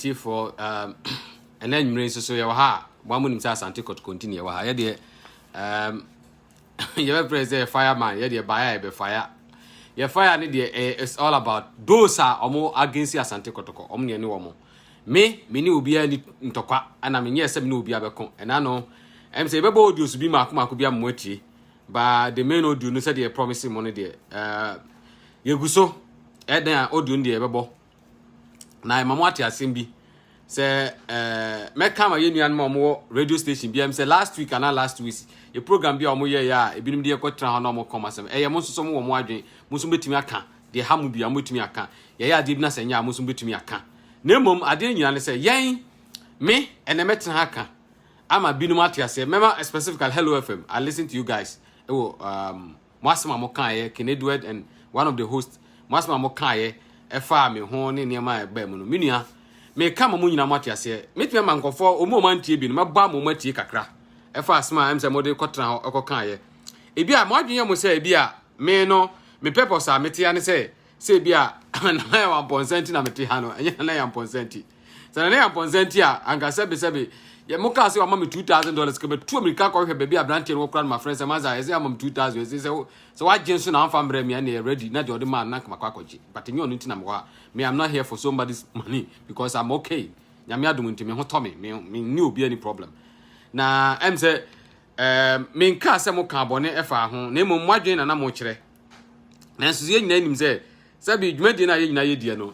atiefoɔ um, ɛnɛ nwumire nso so yɛwɔ ha a wɔn anim sɛ asante kɔtɔkɔnti na yɛwɔ ha yɛdeɛ um, yɛbɛfrɛ sɛ fireman yɛ deɛ baeɛ a yɛbɛ fire yɛ fire ne deɛ ɛyɛ it's all about those a wɔn against asante kɔtɔkɔ wɔn deɛ ne wɔn me me ne obiara ni ntɔkwa ɛna me nyɛ sɛ me ne obiara bɛko ɛna no ɛm sɛ yɛbɛbɔ audio so bi mako mako bi ama mo atie ba the main audio no sɛ deɛ promise mo no deɛ ɛɛ yɛgu so ɛdan a audio no deɛ yɛbɛbɔ na ɛma mo ate asɛm bi sɛ ɛɛ eh, mɛka ma yɛ nuanom a wɔwɔ radio station bi a sɛ last week anaa last week yɛ program bi a wɔyɛ yɛ a ebinom de yɛkɔtena hɔ na wɔkɔm asɛm ɛyɛ mo nso so mo wɔ mo adwene mo nso bɛtumi aka deɛ ha mo bia mobɛtumi aka yɛyɛ adeɛ bi na sɛ nyɛ a mo nso bɛtumi aka na mmom adeɛ nyina ne sɛ yɛn me ɛnɛ mɛtena ha ka ama binom ate aseɛ mɛma specifically hello fm i listen to you guys ɛwɔ um, mo asɛm a mo kaeɛ King Edward and one of the host mo asɛm a mo kaeɛ ɛfa me ho ne nneɛma a ɛbaa mu no me nua meka ma mo nyinaa mo ate aseɛ mɛtumi ama nkɔfoɔ wɔn a wɔn antie bi no mɛbɔ ama wɔn atie kakra ɛfa asɛm a ɛm sɛ mode kɔtena hɔ ɛkɔ kaeɛ ebi a mo adwene yɛ mo sɛ ebi a me no me purpose a metea ne sɛ Sɛ ebia Nana Yaw Ampɔnsa nti na mete ha no, ɛnyɛ Nana Yaw Ampɔnsa nti. Sɛ Nana Yaw Ampɔnsa nti a, anka sɛbesɛbe, yɛ mo kaa sɛ wama me two thousand dollars, kɛmɛ tu amirika kɔhwɛ baabi a aberanteɛ no wɔ kora no ma frɛ sɛ maza, ɛsɛ ama me two thousand, ɛsɛ sɛ sɛ wagye nso na amfa mbrɛ me ɛna yɛ ready, na deɛ ɔde maa no na kama kɔ akɔgye, but ɛnyɛ ɔno nti na mewɔ ha, me I'm not here for somebody's money, because I'm okay, nyame adom nti me ho tɔ me, me, me ne obi any problem, na ɛm sɛ, ɛɛ, menkaa sɛ mo kaa bɔne ɛfa ho, na mmom mo adwene na na mo kyerɛ, nanso yɛn nyinaa nim sɛ sɛbi dwumadie no a yɛn nyinaa yɛdiɛ no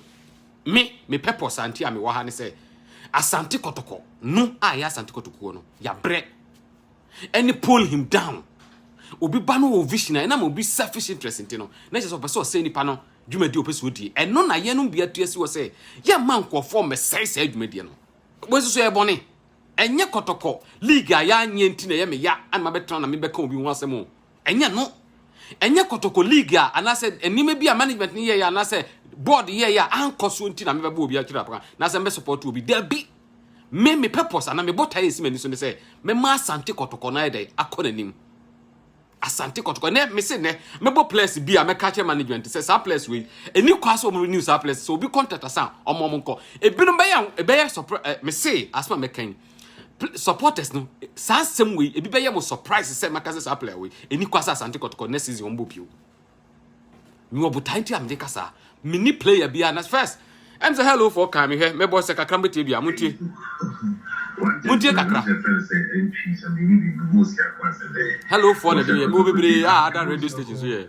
me me purpose anti a mewɔ ha ne sɛ asante kɔtɔkɔ no a yɛ asante kɔtɔkuo no yɛabrɛ ɛne pull him down obi ba no wɔ vision a ɛnam obi selfish interest nti no na kyerɛ sɛ ɔpɛ sɛ ɔsɛe nipa no dwumadie ɔpɛ sɛ ɔdie ɛno na yɛnom bi atua si hɔ sɛ yɛmma nkurɔfoɔ mmɛsɛe saa dwumadie no wɔsi so yɛ bɔne ɛnyɛ kɔtɔkɔ league a yɛanyɛ nti na ɛyɛ me ya ana mabɛtena na mebɛka obi ho asɛm o Ɛnyɛ no. Ɛnyɛ kɔtɔkɔ league a anaasɛ nneɛma bi a management no yɛeɛ anaasɛ board yɛeɛ a ankɔ soɔ nti na mebɛbɔ obi akyiri apaka na sɛ mɛsupɔto obi. Dabi! Me me purpose anaa me botaeɛ a ɛsi m'ani so ne sɛ mɛma Asante kɔtɔkɔ no ayɛ dɛn akɔ n'anim. Asante kɔtɔkɔ nɛ mese nɛ mɛbɔ players bi a mɛka kyerɛ management sɛ saa players wei ɛni kwa sɛ wɔn renew saa players sɛ obi contract asan wɔn wɔn nkɔ ebinom bɛyɛ a ɛbɛyɛ surprise eh, mese asɛm a mɛka yi Pl supporters no, saa nsɛm wei, ebi bɛyɛ mo surprise sɛ mɛka sɛ saa player wei, ɛni kwa sɛ Asante Kɔtɔkɔ next season wɔmbɔ bio. Mewɔ botae nti a mede ka saa. Menni player biara na first, ɛm sɛ hello for kan mehwɛ, mɛbɔ sɛ kakra mobɛtie bi a, montie. Montie kakra. Hello for na ɛde yɛ, mewɔ bebree a ada radio station so yɛ.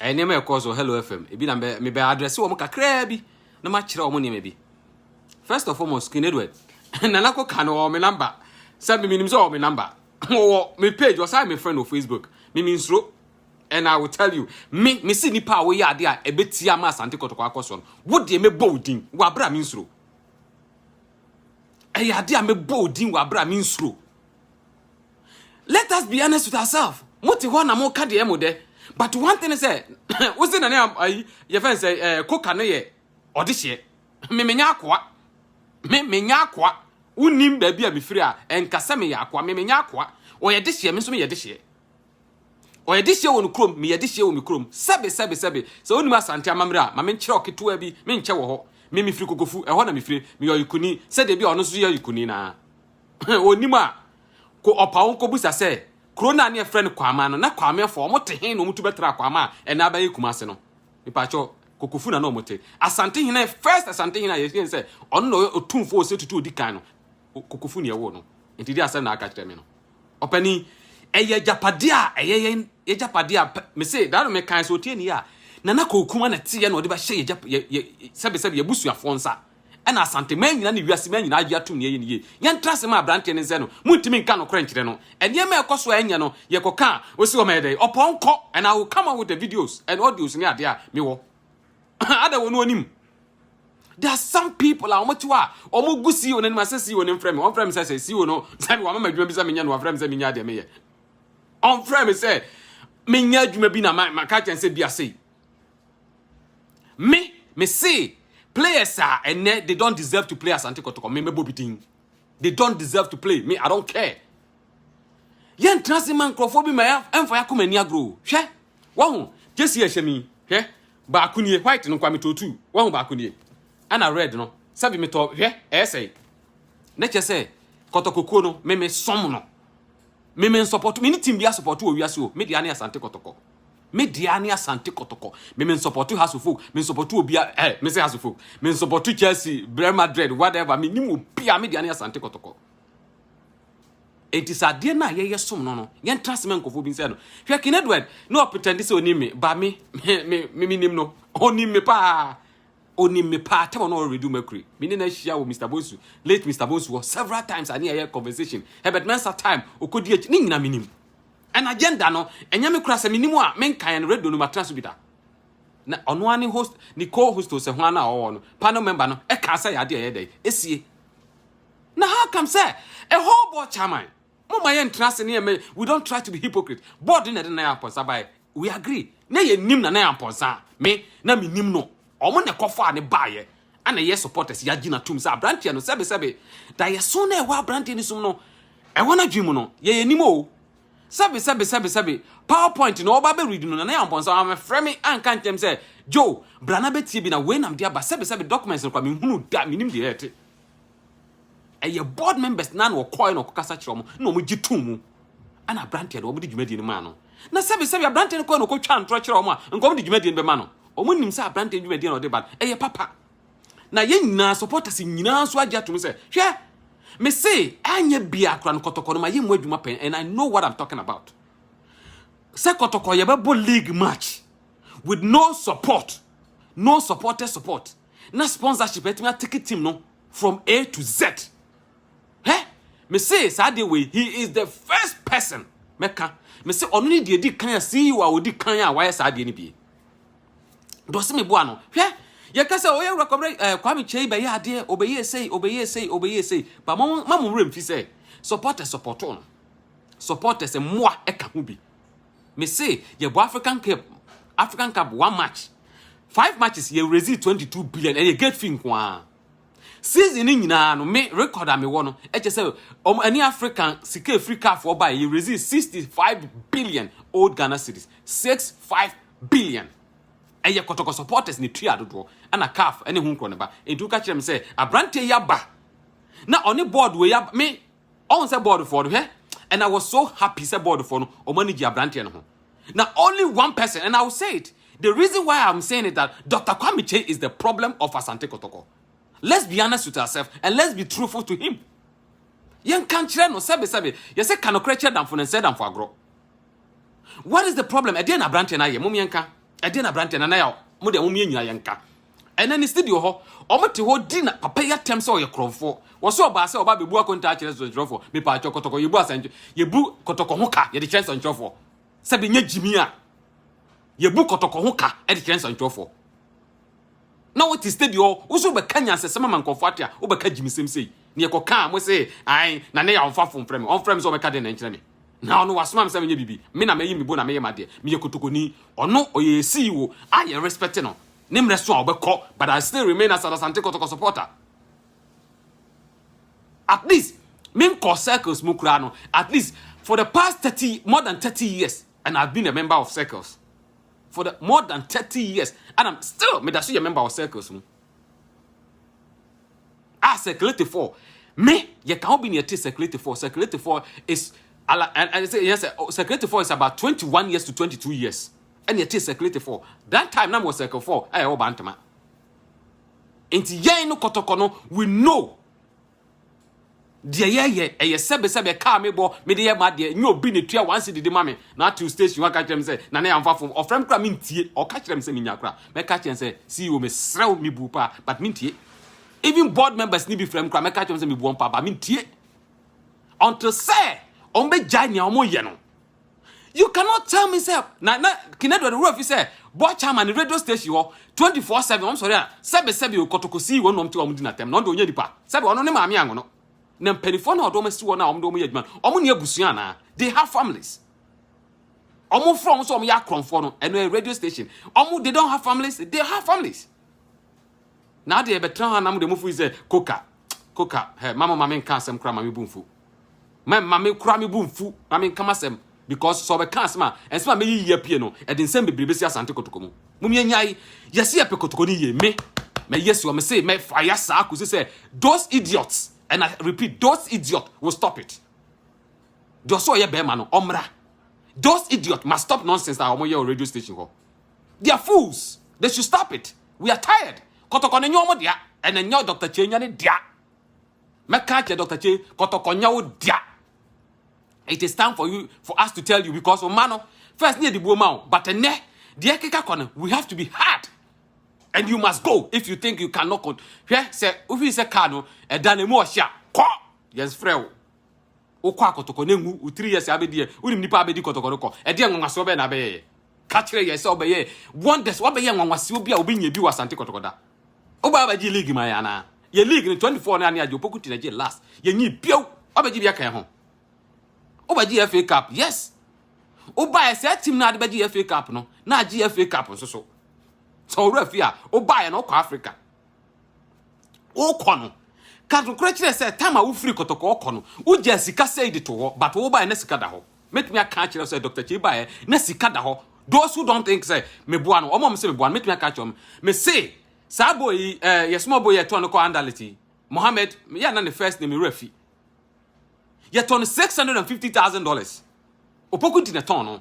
Ɛyɛ nneɛma a ɛkɔɔ so Hello FM. Ebi na mɛ mebɛ adrɛse wɔn kakraa bi na makyerɛ wɔn nneɛma bi. First of foremost, King Edward, nana kɔ ka no wɔ me namba. Sɛ me menim sɛ wɔ me namba. Wɔ me page, ɔsan me friend wɔ Facebook. Me me nsuro. And I will tell you, me me si nipa a woyɛ ade a ɛbɛtia ama asante kɔtɔkɔ akɔ soɔ no. Wo deɛ mɛbɔ wo din wɔ abere a me nsuro. Ɛyɛ ade a mɛbɔ wo din wɔ abere a me nsuro. Let us be honest with ourselves. Mo te hɔ na mo ka deɛ mo dɛ. But one thing sɛ, wo se na ne ayi yɛ fɛn sɛ ɛɛ koka ne yɛ ɔde hyɛ. Me me nya akoa. Me me nya akoa. Wonim baabi a mefiri a ɛnka sɛ meyɛ akoa. Me me nya akoa. Ɔyɛ de hyɛ me nso meyɛ de hyɛ. Ɔyɛ de hyɛ wɔ ne kurom meyɛ de hyɛ wɔ me kurom. Sɛbe sɛbe sɛbe sɛ wonim asante amammerɛ a ma menkyerɛ wo ketewa bi menkyɛ wɔ hɔ. Me mefiri kokofu ɛhɔ na mefiri meyɛ ɔyekuni sɛdeɛ bi a ɔno nso yɛ ɔyekuni naa. Wɔnnim a, kɔ ɔpa wo kɔbisa sɛ kuro no a ne yɛfrɛ no Kwaaman no, na Kwaamanfoɔ wɔte he na wɔtu bɛtraa Kwaaman a ɛnɛ abɛyɛ Kumase no? Mepakyɛw, Kokofu na na wɔte. Asantehene, first Asantehene a yɛhwɛ sɛ ɔno na ɔyɛ otumfoɔ ɔsɛ tutu odi kan no, Kokofu na ɛwoo no. Nti deɛ asɛm na aka kyerɛ me no. Ɔpanin, ɛyɛ agyapadeɛ a ɛyɛ yɛn agyapadeɛ a mese daa no mekan sɛ otie ni a Nana Kowokuma na teɛ na ɔde bɛhyɛ yɛ sɛbesɛbe yɛbusuafoɔ nsa. Ɛna Asante man nyinaa ne wiase man nyinaa agye atom nea ɛyɛ no yie. Yɛntra ase ma abranteɛ no nsɛ no, montumi nka nokorɛ nkyerɛ no. Nneɛma a ɛkɔ so a ɛnyɛ no, yɛkɔka a, ɔsi ɔma yɛ dɛn? Ɔpɔ nkɔ and I will come out with the videos and audios ne adeɛ a mewɔ. Ada wɔ no ɔnim. There are some people a wɔte hɔ a wɔgu CEO no anim a sɛ CEO no mfrɛ me, wɔmfrɛ me sɛ sɛ CEO no sɛ wɔama me adwuma bi sɛ menyɛ no, wɔafrɛ me sɛ menyɛ adeɛ meyɛ. Wɔmfrɛ me sɛ menyɛ adwuma bi na maka kyɛn sɛ bi asɛi. Me me se players a ɛnɛ they don't deserve to play Asante Kɔtɔkɔ me mɛbɔ bi din. They don't deserve to play me I don't care. Yɛn tena se ma nkurɔfoɔ bi ma ɛmfa yɛ akoma ani agorɔ hwɛ wɔho gyesi ɛhyɛ mi hwɛ baako nie white no nkwa metɔ tu wɔho baako nie ɛna red no sɛbi metɔ hwɛ ɛyɛ sɛe ne kyɛ sɛ kɔtɔkɔkuo no meme som no meme nsɔpɔto me ne team bi asɔpɔto wɔ wiase o me deɛ ne Asante Kɔtɔkɔ. Me dea ne Asante Kɔtɔkɔ. Me me nsɔpɔto House of Folk. Me nsɔpɔto obia eh me se House of Folk. Me nsɔpɔto Chelsea, Real Madrid, whatever. Me nim obia me dea ne Asante Kɔtɔkɔ. Enti sɛ adeɛ no a yɛyɛ som no no yɛntra se mɛ nkɔfoɔ bi nsɛ no hwɛ King Edward na ɔpretɛnde sɛ ɔnim me ba me me me me nim no ɔnim me paa ɔnim me paa tɛmɔ na ɔredu mercury me ne no ahyia wɔ Mr Bonsu late Mr Bonsu hɔ several times ane ɛyɛ conversation Herbert Mensah time ɔkɔdi akyi ne nyina me nim And agenda no ɛnyɛ me koraa sɛ menim a menka and radio no matena so bi da na ɔno ara ne host ne co host o sɛ ho ana ɔwɔ no panel member no ɛkaa sɛ yɛ adeɛ ɛyɛ dɛn ɛsie na how come sɛ a whole board chairman mo ma yɛ ntra se ne yɛ we don't try to be hypocrite board na ɛde na yɛ apɔnsa baɛ we agree na yɛ nim na na yɛ ampɔnsa me na me nim no ɔmo na ɛkɔfaa ne baayɛ ɛna yɛ supporters yɛ agyina tum sɛ abranteɛ no sɛbe sɛbe da yɛ so na ɛwɔ abranteɛ no sum no ɛwɔ na dwi mu no yɛ yɛ nim o sɛbe sɛbe sɛbe sɛbe powerpoint na ɔba bɛ read no na na yɛ ampɔnsa ɔmo frɛ me anka nkyɛm sɛ Joe brana bɛtie bi na wei nam de aba sɛbe sɛbe documents no kwa me hunu da me nim deɛ ɛte ɛyɛ board members na na wɔkɔe na wɔkɔkasa kyerɛ wɔn na wɔgye too mu ɛna aberanteɛ no wɔde dwumadie no maa no na sɛbisɛbi aberanteɛ no kɔe na ɔkɔtwa ntorɔ kyerɛ wɔn a nka wɔde dwumadie no bɛma no wɔn nim sɛ aberanteɛ dwumadie na ɔde ba no ɛyɛ papa na yɛn nyinaa supporters nyinaa nso agye atom sɛ hwɛ me se anyɛ bia akora no kɔtɔkɔ no ma yɛ mu adwuma pɛn and i know what i'm talking about sɛ kɔtɔkɔ yɛbɛbɔ league match with no support no supporters support na sponsorship atumi ateke team no from A to Z hɛ me se saa deɛ wei he is the first person mɛka me se ɔno ne deɛ di kan a CEO a ɔdi kan a wayɛ saa deɛ no bie dɔse me boa no hwɛ yɛka sɛ ɔyɛ wura kɔbrɛ ɛɛ Kwame Kyei bɛyɛ adeɛ ɔbɛyɛ esei ɔbɛyɛ esei ɔbɛyɛ esei ba mo ma mo wura mfi sɛ supporters supporto no supporters mmoa ɛka ho bi Me se yɛbɔ African Cup African Cup one match five matches yɛ raise twenty two billion ɛyɛ gate fee nko ara season ne nyinaa no me record a mewɔ no ɛkyɛ sɛ wɔn ɛne African sika efiri CAF wɔ ba yɛ raise sixty five billion old Ghana cedis six five billion ɛyɛ kɔtɔkɔ supporters ne tua dodoɔ ɛna CAF ɛne ho nkorɔ ne ba nti woka kyerɛ me sɛ aberanteɛ yi aba na ɔne board wɔ yi aba me ɔn sɛ bɔɔdfoɔ no hwɛ and I was so happy sɛ bɔɔdfoɔ no ɔmo ani gye abranteɛ no ho na only one person and I will say it the reason why I'm saying it that Dr. Kwame Kyei is the problem of Asante Kotoko let's be honest with ourselves and let's be truthful to him yɛnka nkyerɛ no sɛbesɛbe yɛsɛ ka nokorɛ kyerɛ damfo no nsɛ damfo agorɔ what is the problem ɛdeɛ na aberanteɛ no ayɛ mom yɛnka ɛdeɛ na aberanteɛ no anayɛ mo deɛ mom yɛnyina yɛnka ɛnɛ ne sidi wɔ hɔ ɔmo te hɔ di na papa yɛ atɛm sɛ ɔyɛ korɔmfoɔ wɔ sɛ ɔbaa sɛ ɔba bɛbu akonta akyerɛ nsɛnkyerɛfoɔ mepaa kyɛ kɔtɔkɔ yɛbu asɛnkyɛ yɛbu kɔtɔkɔ ho ka yɛde kyerɛ nsɛnkyerɛfoɔ sɛ bɛnyɛ gyimi a yɛbu kɔtɔkɔ ho ka de kyerɛ nsɛnkyerɛfoɔ na wote steady hɔ wo so bɛka nyansasɛm ama nkurɔfoɔ ate a wobɛka gyimisɛm sei ne yɛkɔkaa mo se ae na ne yɛ ɔmfa fon frɛ me ɔmfrɛ me sɛ ɔbɛka dɛn na nkyerɛ me na ɔno wasoma me sɛ menyɛ biribi me na mayi me bo na meyɛ m'adeɛ meyɛ kotokoni ɔno ɔyɛ yɛ CEO a yɛ respect no ne mmerɛ so a ɔbɛkɔ but I still remain as an Asante Kotoko supporter at least menkɔ circles mu koraa no at least for the past 30 more than 30 years and I've been a member of circles for the more than thirty years and i'm still meda so yɛ member wɔ circles mu a ah, circulate for me yɛ ka ho bi na yɛte circulate for circulate for is ala and and say yes oh, circulate for is about twenty one years to twenty two years ɛna yɛte circulate for that time na mo circle for ɛyɛ wɔ bantama nti yɛn no kɔtɔkɔ no we know. deɛ yɛyɛ ɛyɛ sɛbesɛbe kaa me bɔ mede yɛ ma deɛ nyɛ obi ne tua one cedi de ma me na atew station hɔ aka kyerɛ me sɛ na ne yɛamfa fom ɔfrɛ me kora mentie ɔka kyerɛ me sɛ menya kora mɛka kyerɛ sɛ CEO mesrɛ wo mebu paa but mentie even board members ne bi frɛ me kora mɛka kyerɛ me sɛ mebu wɔn paa but mentie until sɛ wɔn bɛgyae nea wɔn yɛ no You cannot tell me sɛ na na Kinadu de wura fi sɛ board chairman ne radio station hɔ 24/7 wɔn sɔre a sɛbe sɛbe okɔtɔkɔ sii wɔn na wɔn te wɔn di n'atɛm na ɔde ɔnyɛ nipa sɛbe ɔno ne maame angono na mpanimfoɔ na ɔde wɔn asi wɔn a wɔn de wɔn yɛ adwuma no wɔn ne abusua anaa they have families wɔn fura wɔn sɛ wɔn yɛ akorɔmfoɔ no ɛno yɛ radio station wɔn they don't have families they have families na adeɛ yɛbɛtena hɔ anam de mo firi sɛ koka koka hɛ ma mo ma menka asɛm kora ma me bu mfu ma ma me kora me bu mfu ma menka masɛm because sɛ ɔbɛka asɛm a ɛnsɛm a mɛyi yie apue no ɛde nsɛm bebree bɛsi asante kotoko mu mom yɛnyae yɛse yɛpɛ kotoko no yie me mɛyɛ si ɔme se mɛfa ya saa kɔsi sɛ those idiots and I repeat those idiots will stop it deɛ ɔsɛ ɔyɛ bɛrima no ɔmmra those idiots must stop nonsense a wɔyɛ wɔ radio station hɔ they are fools they should stop it we are tired kɔtɔkɔ no nyɛ wɔn dea and ɛnyɛ Dr. Kyei nyɛ ne dea mɛka akyɛ Dr. Kyei kɔtɔkɔ nyɛ wo dea it is time for you for us to tell you because ɔma no first ne yɛde buo ma wo but ɛnɛ deɛ ɛkeka kɔ no we have to be hard and you must go if you think you cannot con hwɛ sɛ wofi sɛ car no ɛda no mu ɔhyɛ a kɔ yɛnsfrɛ wo Wokɔ akɔtɔkɔ na enwu, wo three years a abedi ɛ, wonim nipa a abedi kɔtɔkɔ no kɔ? Ɛdeɛn nwanwaseɛ bɛn na abɛyɛeɛ? Ka kyerɛ yɛn sɛ ɔbɛyɛ wonders, wabɛyɛ nwanwaseɛ bi a obi nyɛ bi wɔ Asante kɔtɔkɔ da. Wobaa abɛgye league maa yɛn anaa? Yɛn league no twenty four no ane agye, Opoku Ti na gyee last, yɛnyii bio. Wabɛgye bi aka yɛn ho? Wobɛgye FA Cup, yes. Wobaeɛ saa team no a ade bɛgye FA Cup no na agye FA Cup nso so. Sɛ ɔwerɛ afi a, wobaeɛ no wokɔ Africa, wokɔ no ka nokorɛ kyerɛ sɛ tam a wofiri kɔtɔkɔɔ kɔ no wogyaa sika sɛi de to hɔ but wobaeɛ na sika da hɔ mɛtumi aka akyerɛ sɛ dr kyei baeɛ na sika da hɔ those who don't think sɛ meboa no ɔma ɔm sɛ meboa no mɛtumi aka akyerɛ ɔm mese saa boy yi eh, yɛsoma boy yɛtɔn no kɔ andality mohammed yɛ na ne first name wura fi yɛtɔ no six hundred and fifty thousand dollars opoku nti na ɛtɔn no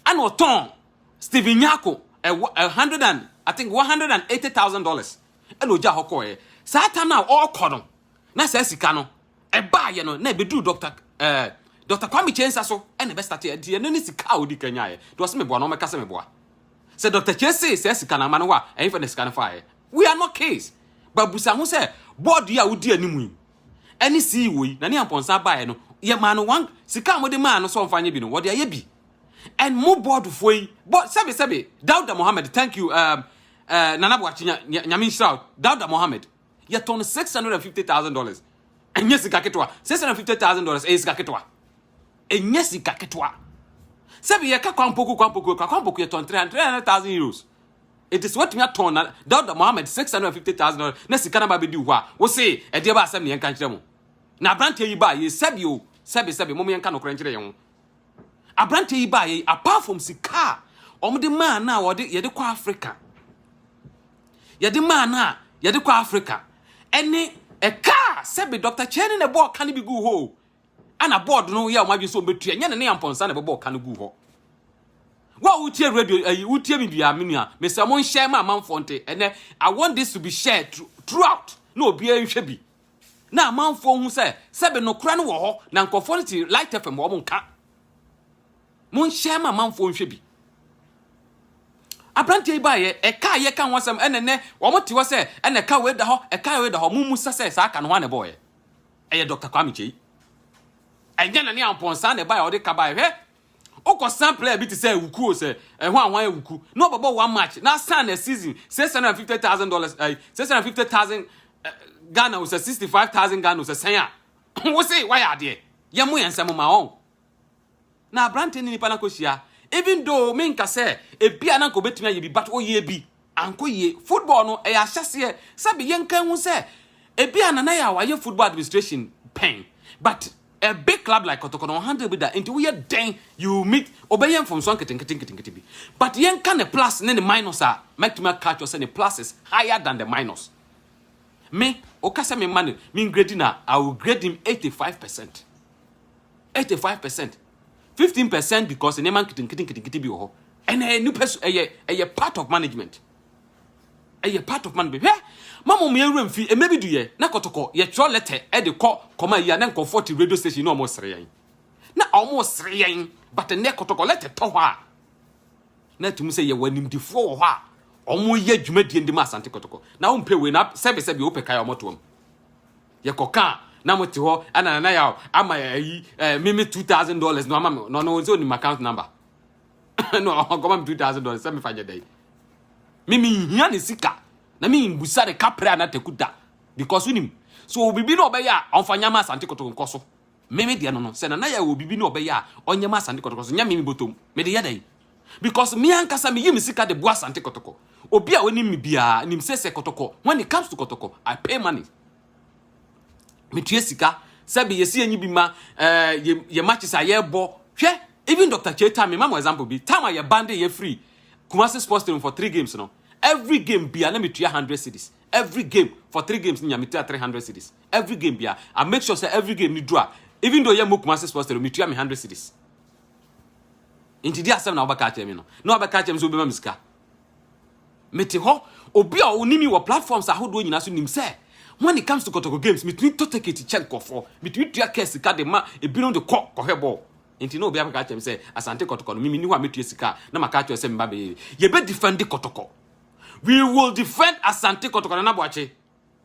ɛna ɔtɔn steven nyako a hundred and i think one hundred and eighty thousand dollars ɛna ogya hɔ kɔɛ saa tam na ɔrekɔ no na saa sika no ɛbaayɛ no na ɛbɛduru dɔkta ɛɛ eh, dɔkta kwame kyɛn nsa so ɛna ɛbɛstate ɛdeɛ no ne sika a odi kan nyaayɛ deɛ ɔsɛ meboa no ɔmɛka sɛ meboa sɛ dɔkta kyɛn se saa sika no ama no hɔ a ɛyɛ fɛ na sika no faayɛ we are not case babusa ho sɛ bɔɔdo yi a wodi anim yi ɛne CEO yi, Nani Amponsah baeɛ no, yɛ maa no one sika a mode maa no sɛ ɔmfa nyɛ bi no, wɔde ayɛ bi. And mo boardfoɔ yi, board, sɛbe sɛbe, Dauda Mohammed, thank you, um, uh, Nana Boakye, nyame nhyira wo, Dauda Mohammed, yɛtɔ no six hundred and fifty thousand dollars. Ɛnyɛ sika ketewa, six hundred and fifty thousand dollars ɛyɛ sika ketewa, ɛnyɛ sika ketewa. Sɛbe yɛka kwampoku kwampoku, kwampoku yɛtɔn three hundred thousand euros, Enti sɛ watumi atɔn na Dauda Mohammed six hundred and fifty thousand dollars na sika no ba bɛdi wo hɔ a, wo se ɛdeɛ ba asɛm ne yɛnka nkyerɛ mo. Na aberanteɛ yi baa yei sɛbi o, sɛbi sɛbi, mom yɛnka nokorɛ nkyerɛ yɛn ho. Aberanteɛ yi baa yei apart from sika a wɔde maa no a wɔde yɛde kɔ Africa, yɛde maa no a yɛde kɔ Africa, ɛne ɛka a sɛbi Dr. Kyɛne na ɛbɔɔ ka no bi guu hɔ o, Ɛna board no yɛ wɔn adwene sɛ wɔbɛtua. Nyɛ ne ne ampɔnsa na ɛbɛbɔɔ ka no guu hɔ. Wo a wotie radio ayi wotie me bia me nua mesɛ mo nhyɛ ma amanfoɔ nte ɛnɛ I want this to be shared throughout na obiara nhwɛ bi na amanfoɔ hu sɛ sɛbe nokora no wɔ hɔ na nkurɔfoɔ no te light fm wɔn nka mo nhyɛ ma amanfoɔ nhwɛ bi aberanteɛ yi baeɛ ɛka yɛ ka ho asɛm ɛnɛ nɛ wɔn te hɔ sɛ ɛnɛ ka wei da hɔ ɛka wei da hɔ mo mu sɛ sɛ saa ka no ho anɛ bɔɔyɛ Ɛyɛ Doctor Kwame Kyei. Ɛnyɛ Nana Ampɔn saa na ɛbae a ɔde ka bae. Hwɛ! Wokɔ sample a bi te sɛ Awuku o, sɛ ɛho a hwan Awuku? Na ɔbɛbɔ one match na asan na season six hundred and fifty thousand dollars ɛyi six hundred and fifty thousand Ghana o sɛ sixty five thousand Ghana o sɛ sɛn a wo se wayɛ adeɛ? Yɛmmo yɛn nsɛm mma wɔn. Na aberanteɛ ne nipa no akɔhyia even though menka sɛ ebia na anka ɔbɛtumi ayɛ bi but ɔyɛɛ bi ankɔ yie. Football no ɛyɛ ahyɛseɛ sɛbe yɛnka nhu sɛ ebia Nana Yaw ayɛ football administration pɛn but a big club like Kɔtɔkɔ no ɔhandle bi da nti woyɛ dɛn you meet ɔbɛyɛ mfomsoɔ nketenkete nketenkete bi but yɛnka ne plus ne ne minus a mɛtumi aka akyerɛ sɛ ne plus is higher than the minus. Me woka sɛ memma no mengredi no a I will grade him 85%. eighty five percent fifteen percent because nneɛma nketenkete nketenkete bi wɔ hɔ ɛna ɛyɛ nipa su ɛyɛ ɛyɛ part of management ɛyɛ part of management hwɛ mamu mu yɛn wura mfi ɛmɛ bi du yɛ na kɔtɔkɔ yɛtwerɛ lɛtɛ ɛde kɔ kɔma yi a na nkɔfoɔ te radio station na wɔn sere yɛn na wɔn sere yɛn but nnɛ kɔtɔkɔ lɛtɛ tɔ hɔ a na ɛtum sɛ yɛwɔ animdefoɔ wɔ hɔ a wɔn yɛ dwumadie de ma asante kɔtɔkɔ na wɔn mpɛ wei na sɛbisɛbi wɔpɛ kae wɔn to wɔn. Yɛkɔ kaa na mo te hɔ ɛna nana yaw ama ayi ɛɛ mimi two thousand dollars na ɔma mi na ɔno nso onim account number na ɔkɔma mi two thousand dollars sɛ mi fa nyɛ dɛ mimi nhia ne sika na mi mbusa ne kapere anatakuta because onim so obibi na ɔbɛyɛ a ɔnfa nyama asante koto nkɔ so Me me deɛ no no, sɛ nana yɛ wɔ biribi na ɔbɛyɛ a, ɔnyɛ ma asante kɔtɔkɔ so, nyɛ me me bɔtɔm. Mede yɛ dɛn? Because me ankasa meyi me sika de boa asante kɔtɔkɔ. Obi a ɔnim me biara nim sɛ sɛ kɔtɔkɔ, when it comes to kɔtɔkɔ, I pay money. Metua sika, sɛbe yɛsi yɛnyi bi ma eh, yɛ, yɛ matches a yɛbɔ. Hwɛ, even Dr. Chetan, me ma mo example bi, time a yɛ bande yɛ free Kumasi Sports Stadium for three games no, every game bia na metua 100 cedis. every game for three games ni nya metua three hundred cedis every game bia i make sure sɛ every game ni dura even though yɛ mo kumase sports tero metua me hundred cedis nti di asɛm na wobɛka akyerɛ me no na wabɛka akyerɛ me sɛ wobɛma me sika mete hɔ obi a ɔne mi wɔ platforms ahodoɔ nyinaa so nim sɛ when it comes to kɔtɔkɔ games metumi tɔ ticket kyɛ nkɔfoɔ metumi tua kɛ sika de ma ebinom de kɔ kɔhwɛ bɔɔl nti na obi abɛka kyerɛ me sɛ asante kɔtɔkɔ no mimi ni hɔ a metua sika na maka kyerɛ sɛ meba bɛyɛ yɛbɛ defend kɔtɔkɔ we will defend asante kɔtɔkɔtɔ na boakye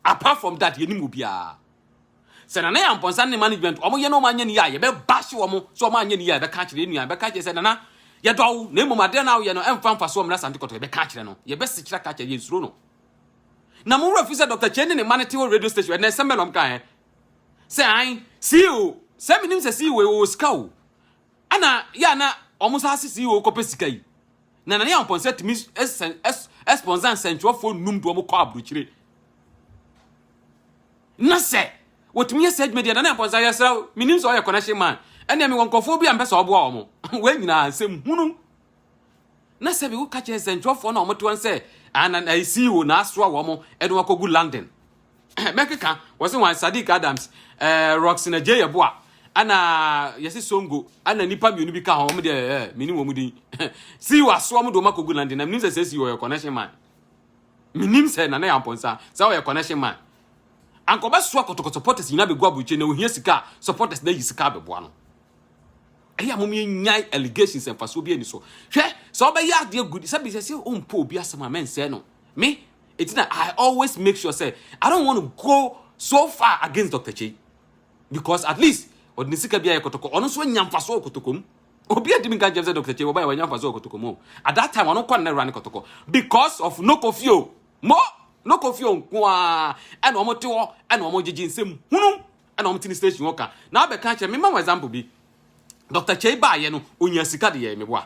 apart from that yɛnim wɔ biara sɛ nana yɛ mpɔnsa ne management wɔn yɛ na wɔn anyɛ ne yɛ a yɛbɛba hye wɔn so wɔn anyɛ ne yɛ a yɛbɛka akyerɛ nua yɛbɛka akyerɛ sɛ nana yɛdɔ wo na mmom adeɛ na woyɛ no ɛmfa mfa so wɔn asante kɔtɔ yɛbɛka akyerɛ no yɛbɛsi kyerɛ ka akyerɛ yɛn suro no na mo wura fi sɛ dr kyɛn ne ne ma ne te wɔ radio station ɛnna ɛsɛm bɛ na wɔn ka ɛ sɛ an ceo sɛ menim sɛ ceo wɔ sika o ɛna yɛ ana wɔn nsa ase ceo kɔpɛ sika yi Nana ne Amponsah tumi sponsor nsɛntwerɛfoɔ nnum de wɔn kɔ aburokyire. Na sɛ wɔtumi yɛ saa adwuma deɛ Nana Amponsah yɛsrɛ wo, menim sɛ ɔyɛ connection man. Ɛnna mewɔ nkurɔfoɔ bi a mpɛ sɛ ɔboa wɔn. Wɔn nyinaa nsɛm hunu. Na sɛ bi woka kyerɛ nsɛntwerɛfoɔ na wɔte wɔn sɛ ana na ɛsii o na asoa wɔn ɛde wɔn akɔgu London. mɛkeka wɔse wɔn Sadiq Adams eh, Roxy na Jay Yeboa ana yɛse Songo ana nipa mmienu bi ka ho wɔn deɛ eh, mini wɔn din si wasoa mu de wɔn akɔgu London na menim sɛ sɛ si wɔyɛ connection man menim sɛ nana yɛ ampɔnsa sɛ wɔyɛ connection man ankɔbɛsoa kɔtɔkɔ supporters nyinaa bɛgu aburukyɛ na ohia sika a supporters na yi sika abɛboa no ɛyɛ mom yɛnyae allegations mfasoɔ bi ani so hwɛ sɛ wobɛyɛ adeɛ good sɛ bisɛ sɛ ɔmpo obi asɛm a mɛnsɛe no me Enti na I always make sure say I don't want to go so far against Dr. Chei because at least ɔde ne sika bi ayɛ kɔtɔkɔ ɔno nso anya mfaso wɔ kɔtɔkɔ mu. Obi adi mi ka nkyɛn sɛ Dr. Chei wɔba yɛ wanya mfaso wɔ kɔtɔkɔ mu. At that time ɔno kɔ na ɛwura ne kɔtɔkɔ because of no kofio mo no kofio nkoa ɛna wɔn te hɔ ɛna wɔn gyegye nsɛm hunu ɛna wɔn te ne station hɔ ka na abɛka kyerɛ me ma wɔn example bi Dr. Chei baayɛ no onya sika de yɛ meboa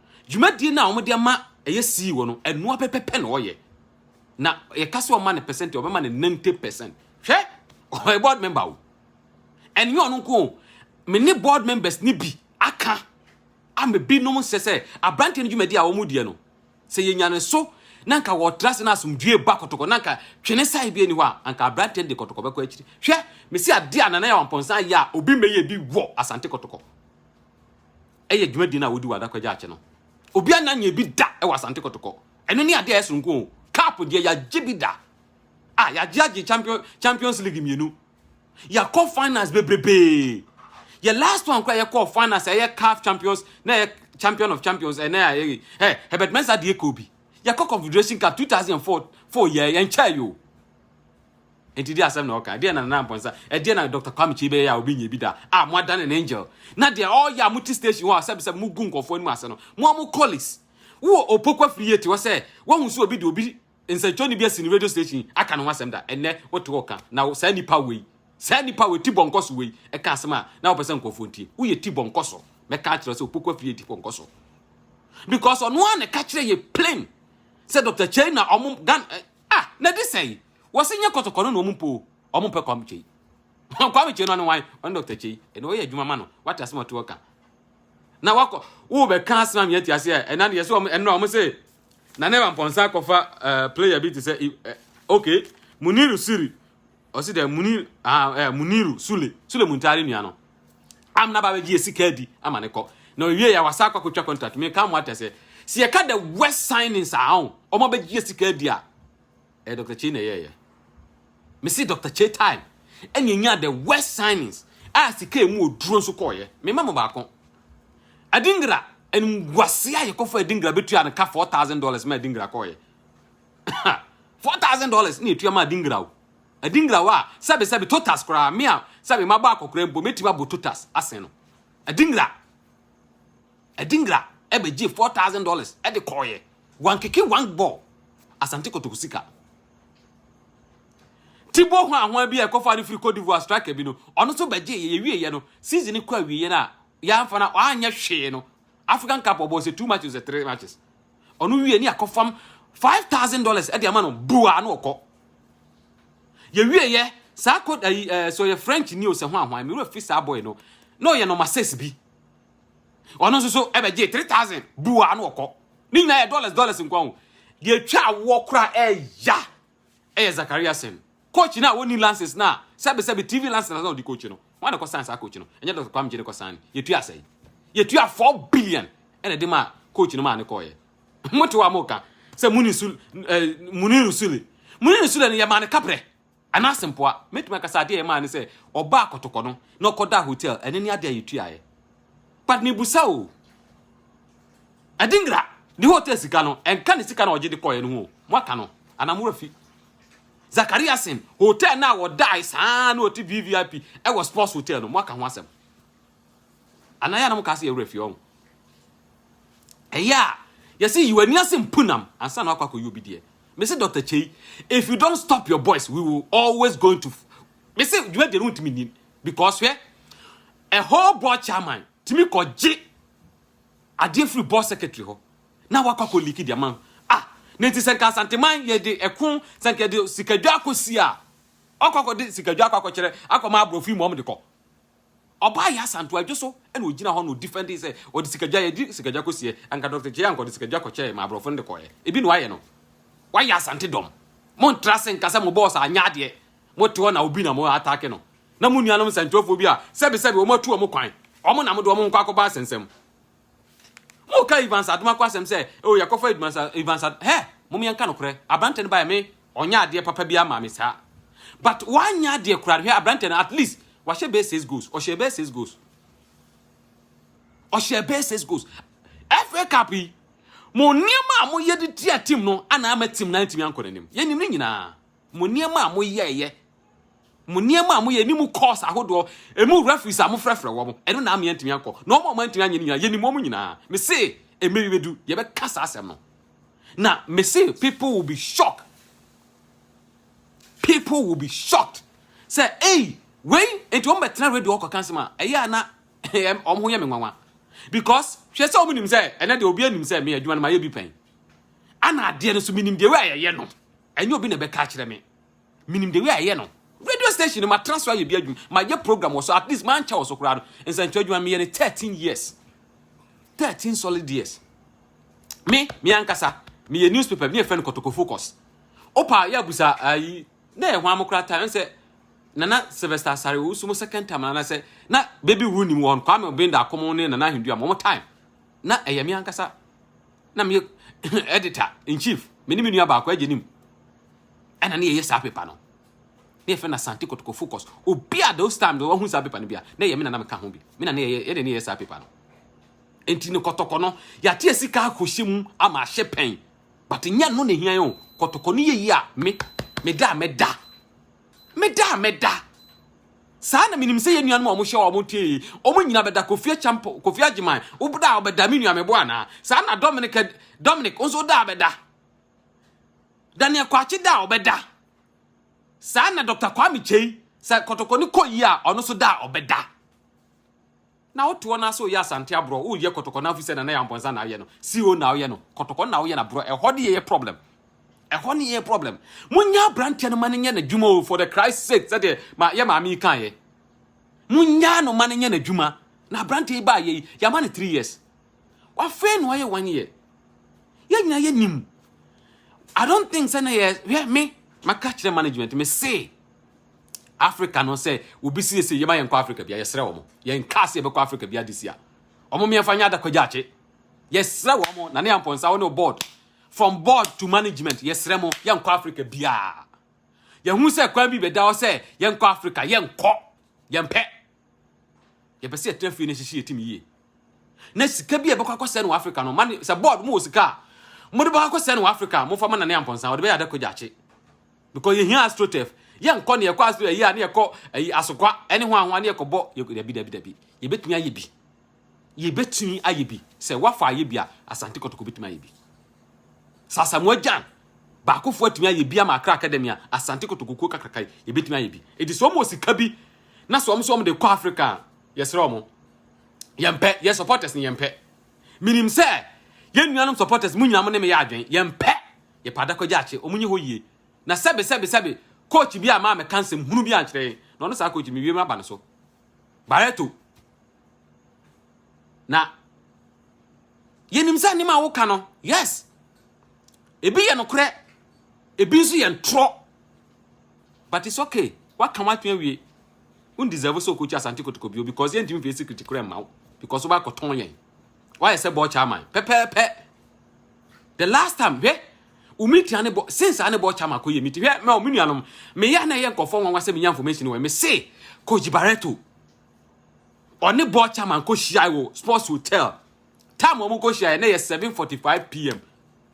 Dwumadie no a wɔde ama ɛyɛ CEO no, ɛnoa pɛpɛpɛ na ɔyɛ. Na yɛka sɛ ɔma no percent, ɔbɛma no 90 percent. Hwɛ, ɔyɛ board member o. Ɛnyɛ ɔno nko o. Me ne board members no bi aka ama binom nsɛ sɛ aberanteɛ no dwumadi a wɔn deɛ no sɛ yɛnya ne so na nka wɔtra se no asomdwie ba kɔtɔkɔ na nka twene sae bi ani hɔ a anka aberanteɛ no de kɔtɔkɔ bɛkɔ akyiri hwɛ mesi adeɛ a nana yɛ wampɔnsa yɛ a obi mmɛyɛ bi wɔ asante kɔtɔkɔ yɛ dwumadie no a wodi wɔ Adakwagya akye no. Obiara nna nyɛɛ bi da wɔ Asante Kɔtɔkɔ. Ɛno ne adeɛ a ɛsoronko o. Cup deɛ yɛagye bi da. Ah, yɛagye agye champion, Champions League mmienu. Yɛakɔ finals bebrebee. Yɛ last one koraa yɛkɔɔ finals a ɛyɛ CAF Champions na ɛyɛ Champion of Champions ɛnɛ a ɛyɛ ɛ Herbert Mensah deɛ kɔɔ bi. Yɛkɔ Confederation Cup 2004 four yɛ yɛnkyɛɛ yo. Enti deɛ asɛm na ɔka. Deɛ na Nana Amponsah, ɛdeɛ na Dr. Kwame Kyei bɛyɛ a obi nyɛ bi da a mo adane no angel. Na deɛ ɔyɛ a mo te station hɔ a sɛbi sɛbi mo gu nkurɔfoɔ anim ase no, mo a mo colleagues. Wo wɔ Opoku afiri yie te hɔ sɛ wahu sɛ obi de obi nsɛnkyerɛwni bi asi ne radio station yi aka ne ho asɛm da. Ɛnnɛ wo te hɔ ka na saa nipa wei, saa nipa wei, Tibɔnkɔso wei ɛka asɛm a na wopɛ sɛ nkurɔfoɔ ntie. Wo yɛ Tibɔnkɔso. Mɛka akyerɛ wo sɛ Opoku afiri yɛ Tibɔnkɔso. Because ɔno ara na ɛka kyerɛ yɛ plain sɛ Dr. Kyei na ɔmo Ghana, Ah na di sɛn? Wɔse nyɛ kɔtɔkɔno na wɔn mpo o. Wɔn mpɛ Kwame Kyei. Kwame Kyei no ɔne wan? Ɔne Dr. Kyei. Ɛnna ɔyɛ adwuma ma no. Wate asɛm a ɔte hɔ ka. Na wakɔ wo bɛka asɛm a mia ti ase a ɛna yɛsɛ wɔn ɛnna wɔn se na ne wampɔnsa akɔfa uh, player bi te sɛ uh, okay Muniru Siri ɔsi dɛ munir ah eh, muniru sule sule muntari nua no am na ba bɛgye yɛ sika adi ama ne kɔ na ɔwie yɛ wasa akɔ akɔtwa contract me ka mo atɛ sɛ si yɛ ka the west signing saa o ɔmo abɛgye yɛ sika adi a eh dr chei na ɛyɛ yɛ me si dr chei time ɛna enya the west signings a sika emu oduro nso kɔɔ yɛ me ma mo baako adingra ɛnum guase a yɛkɔfɔ adingra betua no ka four thousand dollars ma adingra kɔɔ yɛ Four thousand dollars na etua ma adingraw. Adingraw a sɛbe sɛbe totas koraa me a sɛbe mabɔ akɔkora mpo metumi abɔ totas asen no. Adingra. Adingra ɛbɛgye four thousand dollars ɛde kɔɔyɛ. Wankeke one ball. Asante Kotoko sika. Tibo ho ahoa bi a ɛkɔfa de firi Cote d'Ivoire striker bi no ɔno nso bɛgye yɛ yɛwie yɛ no season no kɔ awie yɛ no a yɛamfa no a ɔanyɛ hwee no African Cup ɔbɔɔ sɛ two matches or three matches ɔno wie ne akɔfam five thousand dollars ɛde ama no bua na ɔkɔ yɛwie yɛ saa kɔ ayi eh, ɛɛ eh, sɛ ɔyɛ french ni o sɛ ho ahoan mewura firi saa boy no na ɔyɛ nɔma six bi ɔno nso so ɛbɛgye three thousand bua na ɔkɔ ne nyinaa yɛ dollars dollars nkwa ho deɛ twa awoɔ kora ɛɛya Ɛyɛ Zakaria asɛm. Coach no a ɔnni lances no a sɛbesɛbe TV lances na ɔde coach no, hwan na ɛkɔsan saa coach no? Ɛnyɛ Dɔkta Kwame Gyei na ɛkɔsan no. Yɛtuaa sɛn? Yɛtuaa four billion na ɛde maa coach no maa no kɔeɛ. Mote hɔ a moreka sɛ Munir Sule, eh, Munir Sule. Munir Sule no yɛmaa no kaprɛ anaa asempoa. Mɛtumi aka sɛ adeɛ a yɛmaa no sɛ ɔbaa kɔtɔkɔ no na ɔkɔdaa hotel, ɛno ne adeɛ a yɛtuaeɛ. But mebusa o, Adingra ne hotel sika no ɛnka ne sika na ɔgye de kɔɛ no ho mo aka no anaa mo afi Zakaria sen hotel no a wɔdae saa na ɔte VVIP ɛwɔ sports hotel no mo aka ho asɛm anaa yɛ na mo ka se yɛwerɛ fi ɔho ɛyɛ a yɛse yiw ani ase mpunam ansa na wakɔ akɔyɛ obi deɛ mese Dr. Chei if you don't stop your boys we will always going to mese dwuma deɛ no ntumi nin because hwɛ a whole board chairman tumi kɔgye Adeɛ firi board secretary hɔ na wakɔ akɔ leak de ama ah na nti sɛ nka asanteman yɛde ɛko sɛ nka yɛde sikadwa akɔ si a wakɔ akɔ de sikadwa akɔ akɔ kyerɛ akɔ ma aborɔfo yi ma wɔn de kɔ ɔbaa yɛ asanto adwo so ɛna ogyina hɔ na odifɛnde sɛ ɔde sikadwa yɛde sikadwa kɔ sie anka dɔkta kyea anka ɔde sikadwa kɔ kyerɛ ma aborɔfo no de kɔɛ ebi na wayɛ no wayɛ asante dɔm mo ntra se nka sɛ mo bɔɔs anyɛ adeɛ Mo te hɔ na obi na mo atake no, na mo nuanom nsɛntwerɛfoɔ bi a sɛbesɛbe wɔn atu wɔn kwan, wɔn na mode wɔn nkɔ akɔbɔ asɛnsɛm. Moka Evans Adomako asɛm sɛ, oh, yɛkɔfa Evans, Evans Ad... Hɛ, mom yɛnka nokorɛ, aberantɛ no baeɛ me, ɔnyɛ adeɛ papa bi ama me saa. But wanyɛ adeɛ koraa, hwɛ aberantɛ no, at least, wahyɛ bɛyɛ six goals, ɔhyɛ bɛyɛ six goals. Ɔhyɛ bɛyɛ six goals. FA Cup yi, mo nneɛma a moyɛ de tia team no ana ama team no antumi ankɔ n'anim. Yɛnim ne nyinaa. Mo nneɛma a moyɛeɛ, mo nneɛma a moyɛ ne mu course ahodoɔ, ɛmu referees a mofrɛfrɛ wɔn, ɛno na ama yɛantumi ankɔ. Na wɔn a wɔantumi anyɛ no nyinaa, yɛnim wɔn nyinaa. Mese, mmerɛ bi bɛdu, yɛbɛka saa asɛm no. Na mese, people will be shocked. People will be shocked. Sɛ, ei, wei, enti wɔn bɛtena radio hɔ kɔka asɛm a, ɛyɛ a na wɔn ho yɛ me nwanwa. Because, hwɛ sɛ wɔn nim sɛ, ɛnɛ deɛ obiara nim sɛ me adwuma no mayɛ bi pɛn. Ana adeɛ no nso menim deɛ wei a yɛyɛ no. Ɛnyɛ obi na ɛbɛka akyerɛ me. Menim the way a ɛyɛ no. Radio station no matena so ayɛ bi adwuma. Mayɛ program wɔ so at least mankyɛ wɔ so koraa no. Nsɛnkyerɛ adwuma meyɛ no 13 years. 13 solid years. Me, me ankasa, meyɛ newspaper bi ne yɛfrɛ no Kotoko Focus. Opa yɛ abusa ayi na yɛ hwan mo koraa time sɛ Nana Sylvester Asare Owusu mo second time na sɛ na baby wu nim wɔn Kwame Obenda akom ne Nana Ahendu a mo time. na ɛyɛ me ankasa na meyɛ editor in chief me ne me nua baako agye nim ɛna ne yɛyɛ saa paper no ne yɛfrɛ no asante kotoko focus obi a those time deɛ wahu saa paper no bi a na ɛyɛ me na na meka ho bi me na ne yɛyɛ yɛde ne yɛyɛ saa paper no nti ne kɔtɔkɔ no yɛate asika akɔhyɛ mu ama ahyɛ pɛn but nyɛ no na ɛhia yɛn o kɔtɔkɔ no yɛyi a me meda a meda meda a meda Saa na menim sɛ yɛn nuanom a wɔhyɛ wɔn tee yi, wɔn nyina bɛda Kofi Akyampo, Kofi Agyeman, wobda a wobɛda me nua mebo anaa? Saa na Dominic, Dominic nso da a bɛda. Daniel Kwakye da a ɔbɛda. Saa na Dr. Kwame Kyei, sɛ kɔtɔkɔni kɔ yi a ɔno nso da a ɔbɛda. Na wo toɔ naa sɛ oyɛ asante aborɔ wo yɛ kɔtɔkɔ naa fisɛ nana yɛ anbɔnsa naa woyɛ no CO naa woyɛ no kɔtɔkɔ naa woyɛ na borɔ ɛhɔ ne yɛyɛ problem ɛhɔ ne yɛyɛ problem mo nya abranteɛ no ma no nyɛ na dwuma o for the Christ sake sɛdeɛ ma yɛ maame yi kaa yɛ mo nya no ma no nyɛ na dwuma na abranteɛ yi baa yɛ yi yɛ ama no three years wafɛn no ayɛ one year yɛ nyina yɛ nim I don't think sɛ na yɛ hwɛ me maka kyerɛ management me se Africa no sɛ obi siesie yɛma yɛnkɔ Africa bia yɛsrɛ wɔn yɛn kaa sɛ yɛbɛkɔ Africa bia this year wɔn mmiɛnfa nyɛ adakwa gyaakye yɛsrɛ wɔn na ne ampɔnsa wɔn ne board from board to management yɛsrɛ mo yɛnkɔ Africa bia yɛhu sɛ kwan bi bɛda hɔ sɛ yɛnkɔ Africa yɛnkɔ yɛmpɛ yɛpɛ sɛ yɛtena fie no hyehye yɛ tim yie na sika bi a ɛbɛkɔ akɔsɛe no wɔ africa no mane sɛ board mo wɔ sika a mode bɛkɔ akɔsɛe no wɔ africa mofa ma nane ampɔnsa wɔde bɛyɛ ada kɔgya akye because yɛhia astrotef yɛnkɔ ne yɛkɔ astro ayi a ne yɛkɔ ayi asokwa ɛne ho ahoa ne yɛkɔbɔ dabi dabi dabi yɛbɛtumi ayɛ bi Yɛbɛtumi ayɛ bi. Sɛ woafa ayɛ bi a, Asante Kotoko bɛtumi ayɛ bi. Sɛ Asamoah Gyan baakofoɔ atumi ayɛ bi ama Accra Academy a, Asante Kotoko kuo kakraka yi, yɛbɛtumi ayɛ bi. Enti sɛ wɔn wɔ sika bi na sɛ wɔn nso wɔn de kɔ Africa a, yɛsrɛ wɔn. Yɛmpɛ, yɛn supporters no yɛmpɛ. Menim sɛ yɛn nuanom supporters mu nyinaa mo ne me yɛ adwene, yɛmpɛ. Yɛpɛ adakɔgye akye, wɔn nyɛ hɔ yie. Na sɛbe sɛbe sɛbe, coach bi a maa meka nsɛm hunu bi ankyerɛ yɛn, na ɔno saa coach no, mewie maba ne so. Barreto, na yɛnim sɛ nneɛma a woka no, yes, ebi yɛ nokorɛ, ebi nso yɛ ntorɔ. But it's okay. Waka w'atwe awie. Won deserve sɛ okokyi Asante Kotoko bio because yɛntumi fesi kritikora mma wo because wobɛakɔtɔn yɛn. Why sɛ bɔ chairman? Pɛpɛɛpɛ. The last time hwɛ umitia ne bɔ since ane bɔ chairman kɔ yɛ meeting. Hwɛ me o me nuanom. Me ya na yɛ nkɔfɔ nwanwa sɛ me nya information wɔ. Me se Coach Barreto ɔne bɔ chairman kɔ hyia wɔ Sports Hotel. Time wɔn kɔ hyia na yɛ 7:45 pm.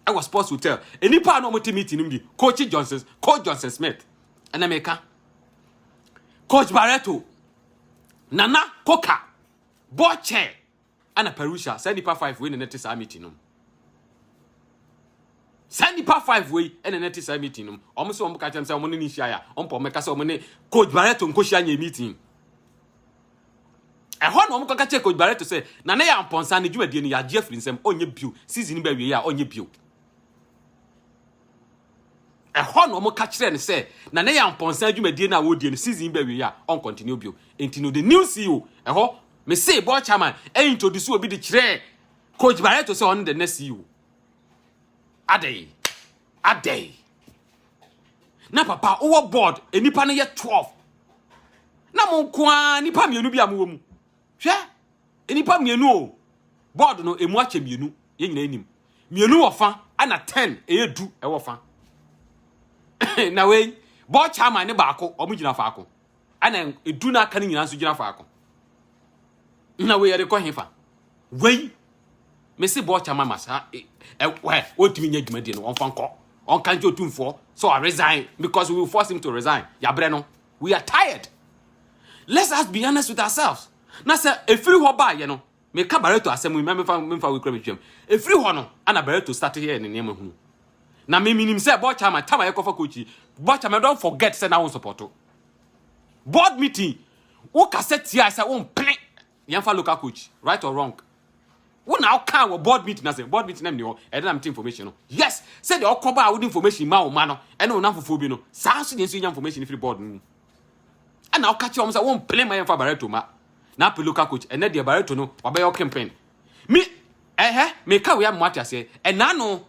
Ɛwɔ Sports Hotel. Enipa na wɔn te meeting nim di Coach Johnson, Coach Johnson Smith. Ɛna me ka Coach Barreto, Nana Koka, bɔ chair. Ana Parousia, saa nipa five wei na na te saa meeting nom. Saa nipa five wei na na te saa meeting nom. Wɔn sɛ wɔn ka kyɛm sɛ wɔn ne ne nhyia ya. Wɔn pɔ wɔn ka sɛ wɔn ne Coach Barreto nkohyia nyɛ meeting. Ɛhɔ na wɔn kɔka kyerɛ Coach Barreto sɛ na ne yɛ ampɔnsa ne dwumadie no yɛagye afiri nsɛm ɔnyɛ bio season bɛ wie a ɔnyɛ bio. ɛhɔ na wɔn ka kyerɛ no sɛ na ne yampɔnsa adwumadie no a wɔredie no season bɛ wie a ɔn continue bio nti no the new CEO ɛhɔ me se board chairman ɛyɛ introduce obi de kyerɛ coach Barreto sɛ ɔne the next CEO adɛn adɛn na papa wowɔ board nnipa no yɛ 12 na mo nko ara nnipa mmienu bi a mowɔ mu Hwɛ, nnipa mmienu o. Board no, emu akyɛ mmienu. Yɛn nyinaa nim. Mmienu wɔ fa, ɛna ten, ɛyɛ du, ɛwɔ fa. na wei, board chairman ne baako, wɔn gyina faako. Ɛna edu na aka no nyinaa nso gyina faako. Na wei yɛde kɔ he fa. Wei, mese board chairman ma saa, e, e, wɛ, wɔntumi nyɛ dwumadie no, wɔmfa nkɔ. Wɔnka nkyɛ otumfoɔ, so I resign, because we will force him to resign. Yɛabrɛ no, we are tired let's us be honest with ourselves na sɛ efiri hɔ baayɛ no meka bareto asɛm yi mɛmfa mɛmfa wekura metwam efiri hɔ no ana bareto start yɛ ne nneɛma hunu na me menim sɛ bɔkya ma tama yɛkɔfa kochi bɔkya ma don't forget sɛ na wo support board meeting wo kasa tia sɛ wo mpene Yɛmfa local coach, right or wrong. Wo na ɔkaa wɔ board meeting ase, board meeting na mni hɔ, ɛde na mete information no. Yes, sɛdeɛ ɔkɔ ba a wode information ma wo ma no, ɛne wo namfofoɔ bi no, saa nso deɛ nso yɛnya information firi board no mu. Ɛna ɔka kyerɛ wɔn sɛ wɔn pele ma yɛmfa Barreto ma. Na apɛ local coach, ɛnɛ deɛ Barreto no wabɛyɛ ɔkempen. Me, ɛhɛ, meka wei ama ate aseɛ, ɛnaano,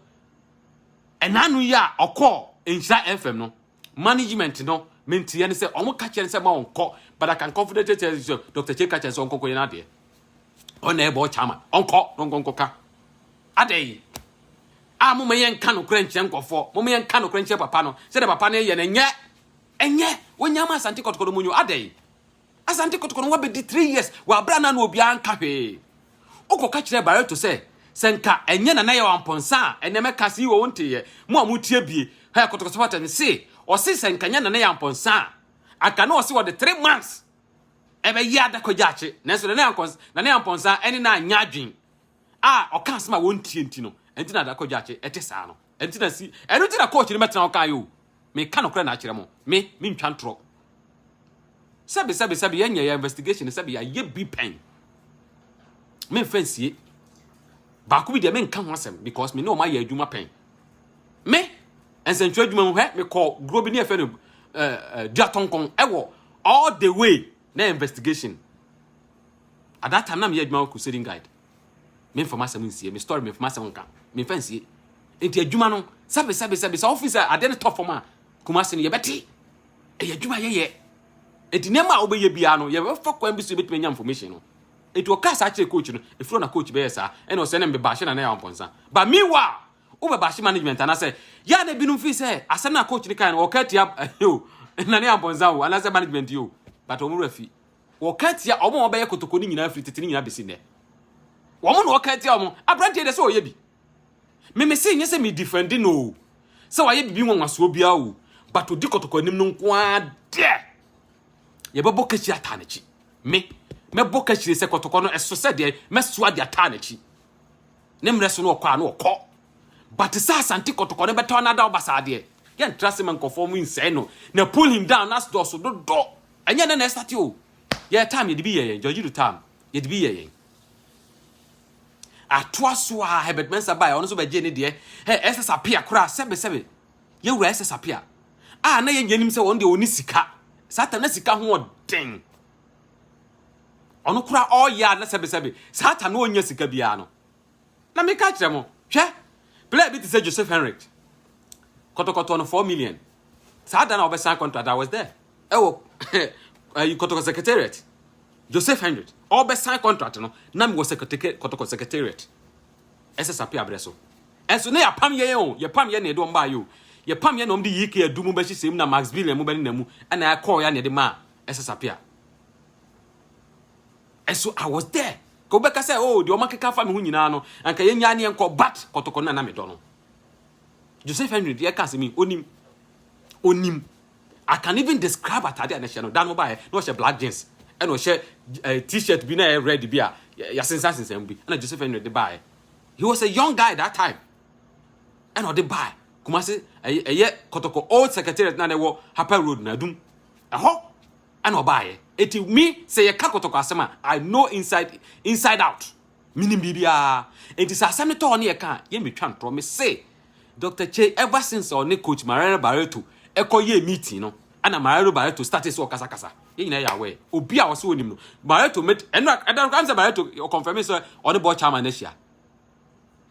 ɛnaano yi a ɔkɔɔ Nhyira FM no, management no me nteɛ ne sɛ ɔmo ka kyerɛ no sɛ ma ɔnkɔ but I can confidently tell you sɛ Dr. Che ka kyerɛ sɛ ɔnkɔkɔ yɛ n'adeɛ ɔna ɛbɔ ɔkyama ɔnkɔ na ɔnkɔnkɔka adɛn yi a moma yɛ nka nokorɛ nkyerɛ nkɔfoɔ moma yɛ nka nokorɛ nkyerɛ papa no sɛdeɛ papa no yɛ no ɛnyɛ ɛnyɛ wonyama asante kɔtɔkɔdɔ mu nyo adɛn Asante Kotoko no wabɛdi three years wɔ abira na na obiara nka hwee. Wokɔka kyerɛ Barreto sɛ sɛ nka ɛnyɛ na na yɛ wampɔnsa a ɛnɛ mɛka sɛ yiwɔ wo nteeɛ mo a motie bie hɛ Kotoko supporters me se ɔse sɛ nka nyɛ na na yɛ ampɔnsa a anka na ɔse ɔde three months ɛbɛyɛ adakɔ gyaakye nanso na na yɛ ampɔnsa ɛne na anyɛ adwen a ɔka asɛm a wɔntie nti no ɛnti na adakɔ gyaakye ɛte saa no. Ɛnti na si, ɛno nti na coach no mɛtena hɔ kan o. Meka nokorɛ na akyerɛ mo, me, mentwa ntorɔ. Sɛbi, sɛbi, sɛbi, yɛnyɛ yɛ investigation no, sɛbi, yɛayɛ bi pɛn. Memfa nsie. Baako bi deɛ menka ho asɛm because me ne wɔn ayɛ adwuma pɛn. Me, nsɛntwerɛ adwuma mu hɛ, mekɔ guro bi ne ɛfɛ no uh, uh, duatɔnkɔn ɛwɔ all the way na investigation. At that time, na meyɛ adwuma wɔ Crusading Guide. Memfa m'asɛm nsie. Me story memfa m'asɛm nka. Memfa nsie. Enti adwuma no, sɛbe sɛbe sɛbe sɛ wofi sɛ adeɛ no tɔ fam a, Kumase no yɛbɛte. Ɛyɛ adwuma yɛyɛ. Enti nneɛma a wobɛyɛ biara no, yɛbɛfa kwan bi so yɛbɛtumi anya information no. Enti ɔkaa saa kyerɛ coach no, ɛfiri na coach bɛyɛ saa, ɛna ɔsɛ ne mbeba ahye na na yɛ awampɔnsa. But meanwhile, wobɛba ahye management anaasɛ yɛ a na ebinom fi sɛ asɛm no a coach no kae no, ɔka atia ɛhɛ o, na ne yɛ awampɔnsa o, anaasɛ management yi o, but wɔn werɛ fi. Wɔka tia wɔn a wɔbɛyɛ kotoko no nyinaa firi tete no nyinaa bɛsi nnɛ. Wɔn na wɔka tia wɔn. Aberanteɛ deɛ sɛ ɔyɛ bi. Me me se nyɛ sɛ me defendi no o. Sɛ wayɛ biribi nwanwasoɔ biara o. But ɔdi kɔtɔkɔ anim no nko ara deɛ. Yɛbɛbɔ kahyire ataa n'akyi. Me, mɛbɔ kahyire sɛ kɔtɔkɔ no ɛso sɛ deɛ mɛsoa de ataa n'akyi. Ne mmerɛ so no ɔkɔ a no ɔkɔ. But sɛ asante kɔtɔkɔ no bɛtɔ anada ɔba saa deɛ. Yɛntra se ma nkɔfoɔ mu nsɛe no. Na pull him down as dɔɔso dodo. Ɛnyɛ nnɛ na ɛstate o. Yɛn time yɛde bi yɛ yɛn. George Adu time yɛde bi yɛ yɛn. Atoa so a Herbert Mensah bae, ɔno nso bɛgyee ne deɛ. Hɛ, SS Appiah koraa, sɛbe sɛbe. Yɛwura SS Appiah. A na yɛn nyɛ nim sɛ ɔno deɛ ɔne sika. Saa time na sika ho ɔden. Ɔno koraa ɔyɛ a na sɛbe sɛbe. Saa time na ɔnya sika biara no. Na meka akyerɛ mo, hwɛ, player bi te sɛ Joseph Henrich, kɔtɔkɔtɔɔ no four million. Saa da na wɔbɛsan contract, I was there. Ɛwɔ ɛyi kɔtɔkɔ secretariat. Joseph Henrich, ɔbɛsan contract no, na mewɔ secretary kɔtɔkɔ secretariat. Ɛsɛ sape abrɛ so. Ɛnso na yɛapam yɛn o, yɛpam yɛn na yɛde wɔn baayɛ o. Yɛpam yɛn na wɔn de yii kee adu mu bɛhyehyɛ mu na Max Billion mu bɛne na mu, ɛna ɛkɔɔ yɛ na yɛde maa ɛsɛ sape a. So I was there? Ka wobɛka sɛ oh deɛ ɔmakeka afa me ho nyinaa no anka yɛnyaa ne yɛnkɔ but kɔtɔkɔ no na na medɔ no Joseph Henry deɛ ɛka asɛm yi onim onim I can even describe atade a n'ahyɛ no da no baeɛ na ɔhyɛ black jeans ɛna ɔhyɛ eh, t-shirt bi na ɛyɛ red bi a yɛasensansensan mu bi ɛna Joseph Henry de baeɛ he was a young guy that time ɛna ɔde baeɛ Kumasi ɛyɛ kɔtɔkɔ old secretariat na na ɛwɔ Harper Road na adum ɛhɔ ɛna ɔbaeɛ. Eti me sɛ yɛka kɔtɔkɔ asɛm a, I know inside inside out. Menim biribiara. Enti sɛ asɛm no tɔ hɔ ne yɛka a, yɛ metwa ntorɔ. Me se Doctor Kyei ever since ɔne coach Mariano Barreto ɛkɔ yɛɛ meeting no, ɛna Mariano Barreto startee sɛ ɔkasakasa. Yɛn nyinaa yɛ aware. Obi a ɔse onim no, Barreto met, ɛno a, ɛda koraa ne sɛ Barreto ɔconfirmee sɛ ɔne Board Chairman no ahyia.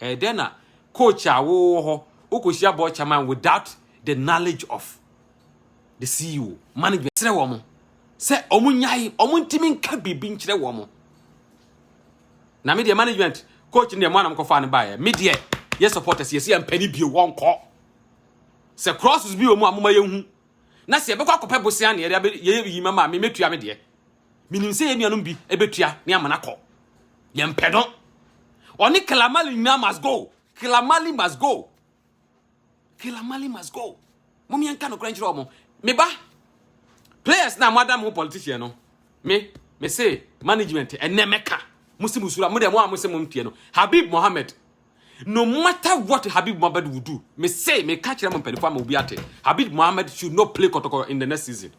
Ɛyɛ dɛn na coach a wowɔ hɔ, wokɔhyia Board Chairman without the knowledge of the ceo management srɛ wɔn sɛ wɔn nyae wɔn ntumi nka biribi nkyerɛ wɔn na me deɛ management coach ne deɛ mo anam kɔfa ne baeɛ me deɛ yɛ supporters yɛsi yɛn mpɛ ne bio wɔn kɔ sɛ crosses bi wɔ mu a mo ma yɛn hu na sɛ yɛbɛkɔ akɔpɛ bosia ne yɛde yɛ yi ma maame mɛtua me deɛ menim sɛ yɛn nuanom bi ɛbɛtua ne amana kɔ yɛn mpɛ no ɔne kalamali nyinaa must go kalamali must go Killer Mali must go. Mom yɛnka no kora nkyerɛ wɔn. Me ba, players na moada mo politician no. Me, me se management ɛnɛ mɛka. Mo se musura, mo de mo a mo se mo mfie no. Habib Mohammed. No matter what Habib Mohammed will do, me say me ka kyerɛ mo mpanimfoɔ ama obi ate. Habib Mohammed should not play kɔtɔkɔ in the next season.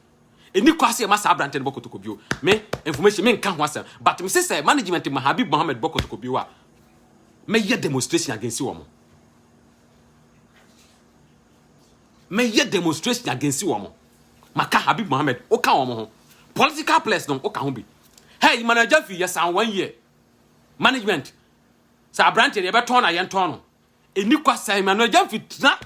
Any kwa se ma saa abrante no bɔkɔtɔkɔ bio. Me information me nka ho asɛm, but me se sɛ management ma Habib Mohammed bɔkɔtɔkɔ bio a, mɛyɛ demonstration against wɔn. mɛyɛ demonstration against wɔn maka habib mohammed woka wɔn ho political players no woka ho bi hey mana agya fi yɛsan one year management sɛ aberante no yɛbɛtɔn no a yɛntɔn no ɛni kwa sɛ mana agya fi tena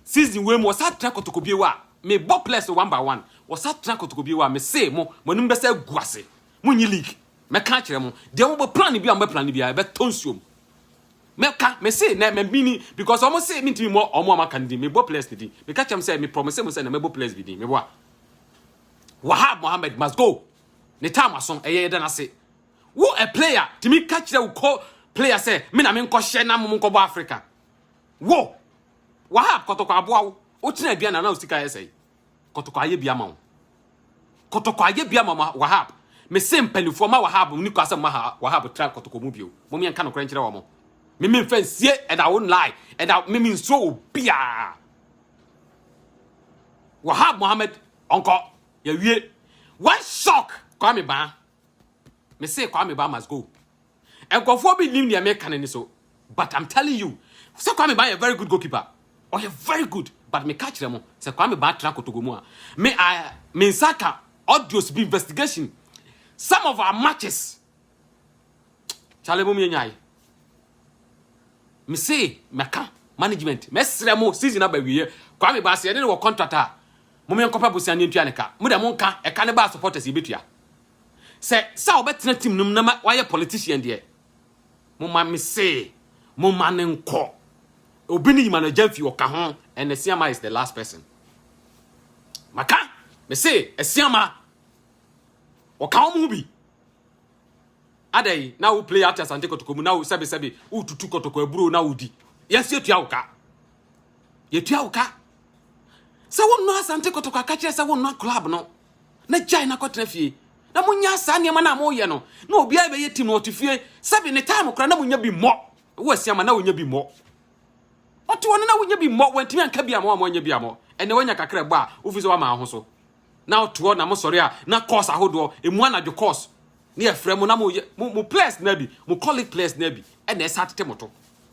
season wei mu wɔsa tena kotokobie wɔ a mebɔ players one by one wɔsa tena kotokobie wɔ a mese mo moanim bɛsɛ agu ase monyi league Mɛka akyerɛ mo, deɛ mo bɛ plan bi a mo bɛ plan bi a ɛbɛ tɔ nsuo mu. Mɛka, me se na mɛ mini because ɔmo se mi ntumi mɔ ɔmo a mo aka no din, me bɔ players ni din. Meka kyerɛ mo sɛ me promise mo sɛ na mɛ bɔ players bi din, me boa. Wahab Mohammed must go, ne time aso, ɛyɛ yɛda n'ase. Wo a player, tumi ka kyerɛ wo kɔ player sɛ me na me nkɔ hyɛ na mo mo nkɔ bɔ Africa. Wo, Wahab kɔtɔkɔ aboa wo, wo tena aduane na na wo sika yɛ sɛe. Kɔtɔkɔ ayɛ bi ama wo. Kɔtɔkɔ ayɛ bi ama Wahab. Mese mpanimfoɔ ma Wahab ni kɔ asɛ mma Wahab tra kɔtɔkɔ mu bio. Mom yɛnka nokorɛ nkyerɛ wɔn. Me me mfa nsie and I won't lie and I, me me nsuro wɔ biara. Wahab Mohammed ɔnkɔ yɛwie. One shock Kwame Baa. Mese Kwame Baa must go. Nkurɔfoɔ bi nnim deɛ meka no ani so but I'm telling you sɛ Kwame Baa yɛ very good goalkeeper. Ɔyɛ very good but meka kyerɛ mo sɛ Kwame Baa tra Kotogo mu a me I me nsa ka audios bi investigation some of our matches kyale mom yɛnyae me se mɛka management mɛsrɛ mo season aba wieɛ Kwame Baa sɛ yɛne ne wɔ contract a mom yɛnkɔpɛ bosia ne ntua ne ka mo deɛ monka ɛka ne baa supporters yɛbɛtua Sɛ sɛ ɔbɛtena team no mu na wayɛ politician deɛ mo ma me se mo ma ne nkɔ obi ne yima no agya mfi ɔka ho and Asiama is the last person maka me se Asiama ɔka wɔn ho bi adai na wo play ate asante kɔtɔkɔ mu na wo sɛbe sɛbe wo tutu kɔtɔkɔ aburo na wo di yɛsi etua wo ka yɛtua wo ka sɛ wo nnɔ asante kɔtɔkɔ akakyerɛ sɛ wo nnɔ club no na gyae na kɔtena fie na monya saa nneɛma no a moyɛ no na obiara bɛyɛ tim na ɔte fie sɛbi ne time koraa na monya bi mmɔ wɔ asiama na wonya bi mmɔ ɔte hɔ no na wonya bi mmɔ wantumi anka bi ama wɔn a wɔanya bi amɔ ɛnna wanya kakra bɔ a wofi sɛ wama ho so na ɔte hɔ na mosɔre a na course ahodoɔ emu anadwo course ne yɛfrɛ mo na mo yɛ mo mo players na bi mo colleague players na bi ɛnna ɛsa tete mo to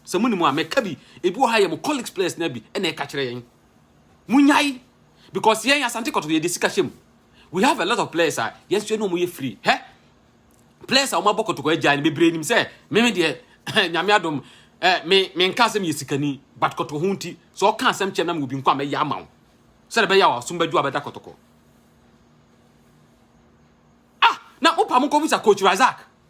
sɛ mo ni mo a mɛka bi ebi wɔ ha yɛ mo colleague players na bi ɛnna ɛka kyerɛ yɛn Munyae because yɛn Asante Kɔtɔ yɛde sika hyɛ mu. We have a lot of players a yɛsua no mu yɛ free. Hɛ players a wɔn abɔ kɔtɔkɔ agya no bebree nim sɛ meme deɛ nyame adom eh, me me nka asɛm yɛ sikani but kɔtɔkɔ ho nti sɛ ɔka asɛm kyɛ nam obi nko a mɛyɛ ama wo sɛ de bɛyɛ a wasom bɛdwo abɛda kɔtɔkɔ ah na wopa mo nkɔmisa coach Razak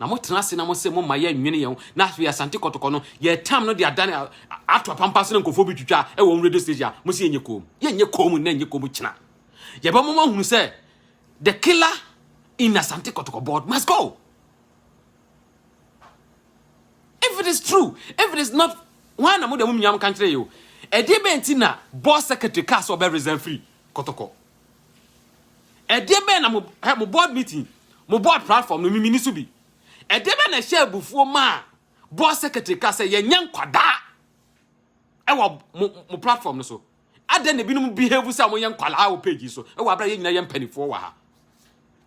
na motena ase na mo se momma yɛnnwene yɛn ho na afei asante kɔtɔkɔ no yɛtam no de adane ato apampa so na nkɔfoɔ bi twitwa ɛwɔ radio station a mo se yɛnyɛ koom yɛnyɛ koom na ɛnyɛ koom kyena yɛbɛma mo ahunu sɛ the killer in asante kɔtɔkɔ board must go if it is true if it is not why na mo de mo nyam kankyere yo ɛde bɛn ti na board secretary ka sɛ ɔbɛ resign free kɔtɔkɔ Ɛdeɛ bɛn na mo hɛ mo board meeting mo board platform no mimini so bi ɛdeɛ bɛn na ɛhyɛ abufuo maa board secretary ka sɛ yɛnyɛ nkwadaa ɛwɔ mo mo platform no so adɛn na ebinom behave sɛ wɔyɛ nkwadaa wɔ page yi so ɛwɔ abira yɛn nyinaa yɛ mpanimfoɔ wɔ ha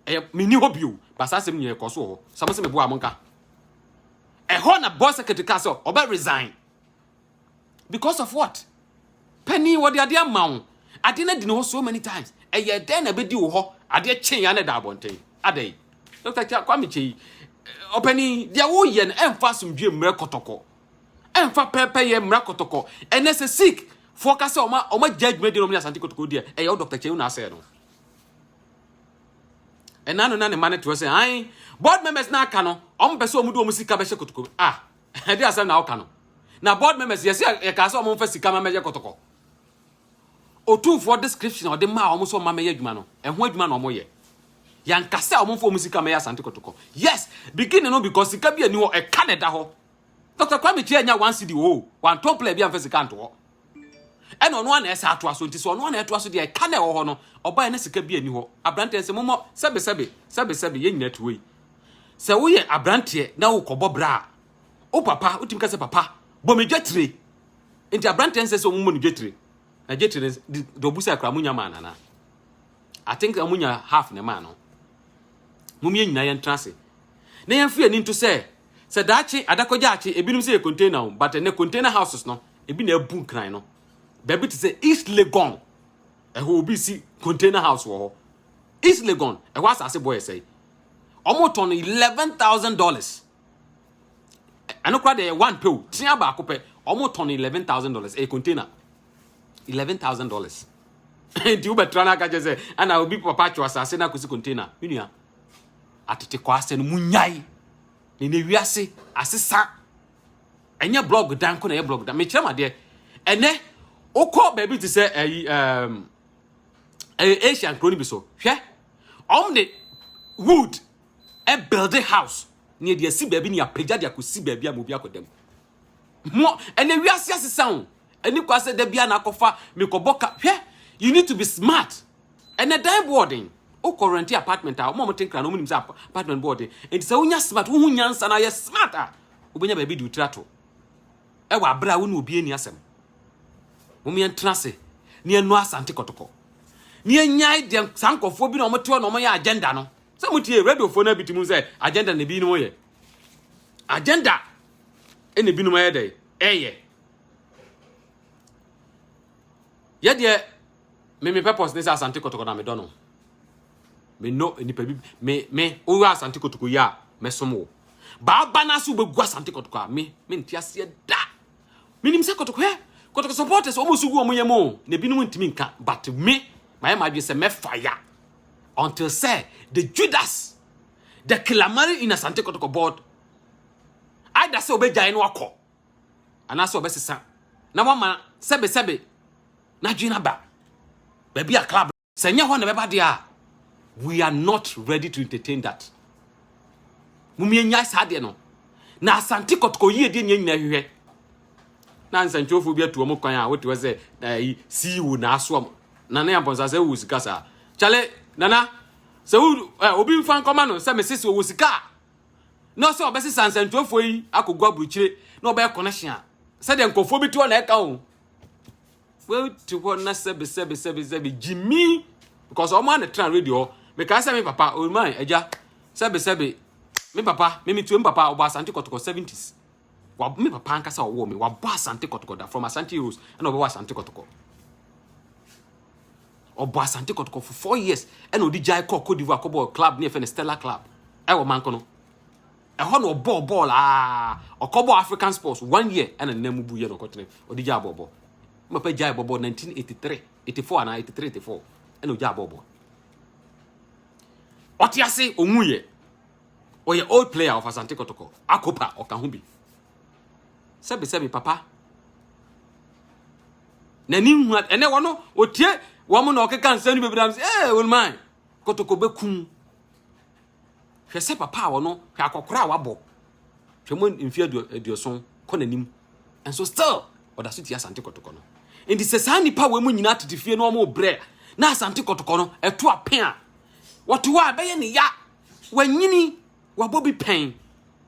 ɛyɛ mini hɔ bio basa asɛm nyɛ ɛkɔ so wɔ hɔ sɛ mo sɛ meboa mo nka ɛhɔ na board secretary ka sɛ ɔbɛ resign. because of what panin wɔde adeɛ ama wo adeɛ no adi ne hɔ so many times ɛyɛ dɛn na ɛbɛdi wo hɔ adeɛ kyen ya na ɛda abɔnten adɛn dɔkta kwame kyɛ yi ɔpanin deɛ woyɛ no ɛmfa asomdwie mmerɛ kɔtɔkɔ ɛmfa pɛpɛyɛ mmerɛ kɔtɔkɔ ɛnɛ sɛ sik foɔ ka sɛ ɔma ɔma gya adwuma di na ɔmo ne asante kɔtɔkɔ deɛ ɛyɛ wo dɔkta kyɛw na asɛ no ɛna no na ne ma no toɔ sɛ an board members na aka no ɔmo pɛ sɛ ɔmo de ɔmo sika bɛhyɛ kɔtɔkɔ ah Ɛde asɛm na woka no. Na board members yɛsi yɛkaa sɛ wɔn mfa sika ma mɛyɛ kɔtɔkɔ. Otumfoɔ description a ɔde maa wɔn sɛ wɔn ma mɛyɛ adwuma no, ɛho adwuma na wɔn yɛ. Yɛnka sɛ wɔn mfa wɔn sika mɛyɛ Asante kɔtɔkɔ. Yes, beginning no because sika bi ani hɔ, ɛka na ɛda hɔ. Dr. Kwame Kyia nya one cedi oo, wantɔ player bi amfa sika anto hɔ. Ɛna ɔno ara na ɛsɛ atoa so nti sɛ ɔno ara na ɛtoa so deɛ ɛka na ɛwɔ hɔ no ɔbaeɛ na sika bi ani hɔ aberanteɛ nsɛ momɔ sɛbesɛbe sɛbesɛbe yɛn nyinaa tuo yi sɛ woyɛ aberanteɛ na wokɔbɔ bra a wo papa wotumi ka sɛ papa bɔ me dwatire nti aberanteɛ nsɛ sɛ ɔmumɔ ne dwatire na dwatire deɛ ɔbu sɛ akora monya maa no anaa I think monya half na ɛmaa no mom yɛn nyinaa yɛntena ase na yɛmfa yɛn ani nto sɛ Sɛ daakye adakɔgyaakye ebinom sɛ yɛ container o but ɛnɛ container houses no ebi na abu nkran no baabi te sɛ East Legon ɛhɔ obi si container house wɔ hɔ East Legon ɛhɔ asase bɔ yɛ sɛe wɔn tɔn no eleven thousand dollars ɛno kora deɛ one pew tia baako pɛ wɔn tɔn no eleven thousand dollars ɛyɛ container eleven thousand dollars nti wobɛtra no aka kyɛ sɛ ana obi papa atwe asase no akɔsi container menua Atetekwasɛm no, munnyae. Ne ne wiase asesa. Ɛnyɛ blog dan ko na ɛyɛ blog dan. Mekyerɛ mo adeɛ. Ɛnɛ, wokɔ baabi te sɛ ɛyi ɛɛm ɛyɛ Asia nkuro no bi so. Hwɛ, wɔn de wood ɛbuilde house ne yɛde asi baabi ne yɛapagya de akɔsi baabi a ma obi akɔda mu. Mo ɛnɛ wiase asesa o. Ɛni kwa sɛ da bia na akɔfa mekɔbɔ ka. Hwɛ, you need to be smart. Ɛnɛ dan boɔden. Wokɔ renti apartment a, ɔmo a wɔte nkran no, ɔmo nim sɛ apartment boɔden. Enti sɛ wonya smart, wohu nyansa na yɛ smart a, wobɛnya baabi de wotira to. Ɛwɔ abere a wo ne obi ani asɛm. Wɔn yɛn tena ase ne yɛn no asante kɔtɔkɔ. Ne yɛn nyae deɛ saa nkɔfoɔ bi na wɔn te hɔ na wɔn yɛ agenda no. Sɛ mo tie radiofoɔ na bi ti mu sɛ agenda na ebi nom yɛ. agenda ɛna ebinom ayɛ dɛ ɛyɛ yɛ deɛ me me purpose ne sɛ asante kɔtɔkɔ na medɔ no menɔ nipa bi me me woyɛ asante kɔtɔkɔ yi a mɛsom wo baaba no ase wobɛgu asante kɔtɔkɔ a me mente aseɛ da menim sɛ kɔtɔkɔ ɛ kɔtɔkɔ supporters ɔmo so gu ɔmo yɛ mo na ebinom ntumi nka but me mayɛ m'adwene sɛ mɛfa ya until sɛ the judas the kilamari in asante kɔtɔkɔ board either sɛ ɔbɛgyae no akɔ anaasɛ ɔbɛsesa na wama sɛbesɛbe n'adwene aba baabi a club sɛ nyɛ hɔ na ɛbɛba deɛ a we are not ready to entertain that mumie nyae saa deɛ no na asante kɔtɔkɔ yie deɛ nyɛ nyina hwehwɛ na nsɛntwerɛfoɔ bi atu wɔn kwan a wote hɔ sɛ eh, ceo na asoa mo nana yɛ mpɔnsa sɛ wowu sika saa kyale nana sɛ wo ɛ obi nfa nkɔma no sɛ mesese ɔwɔ sika a na ɔsɛ ɔbɛsesa nsɛntuafoɔ yi akɔgu aburukyire na ɔbɛyɛ connection a sɛdeɛ nkurɔfoɔ bi te hɔ na ɛka o wote hɔ na sɛbe sɛbe sɛbe sɛbe gyimi because ɔmo ana tena radio hɔ mekaa sɛ me papa oman oh agya sɛbe sɛbe me papa me metuo me papa ɔbɔ asante kɔtɔkɔ 70s wa me papa ankasa ɔwɔ me wabɔ asante kɔtɔkɔ da from asante rose ɛna ɔbɛwɔ asante kɔtɔkɔ Ɔbɔɔ Asante Kɔtɔkɔ for four years ɛna ɔde gyae kɔɔ Cote d'Ivoire kɔbɔɔ club ne yɛfɛ no Stella Club ɛwɔ Mankono. Ɛhɔ na ɔbɔɔ bɔɔl aa ɔkɔbɔɔ African Sports one year ɛna ne nan mu buiɛ na ɔkɔtene ɔde gyaa bɔɔbɔ. Ne papa gyae bɔbɔ 1983, 84 anaa 83, 84 ɛna ɔgyaa bɔɔbɔ. Ɔte ase ɔwuiɛ. Ɔyɛ old player of Asante Kɔtɔkɔ, Akopa ɔka ho bi. sɛbi sɛbi papa na ni hu ɛnɛ wɔn no otie wɔn na ɔkeka nsɛm no bebree am sɛ ɛɛ wɔn man kotoko bɛkum hwɛ sɛ papa a wɔn hwɛ akɔkora a wabɔ hwɛ mo mfe aduoson kɔ n'anim nso still ɔda so tia asante kotoko no nti sɛ saa nipa wɔn mu nyinaa tete fie na wɔn brɛ na asante kotoko no ɛto apɛn a wɔte hɔ a ɛbɛyɛ ne ya wɔnyini Wabɔ bi pɛn.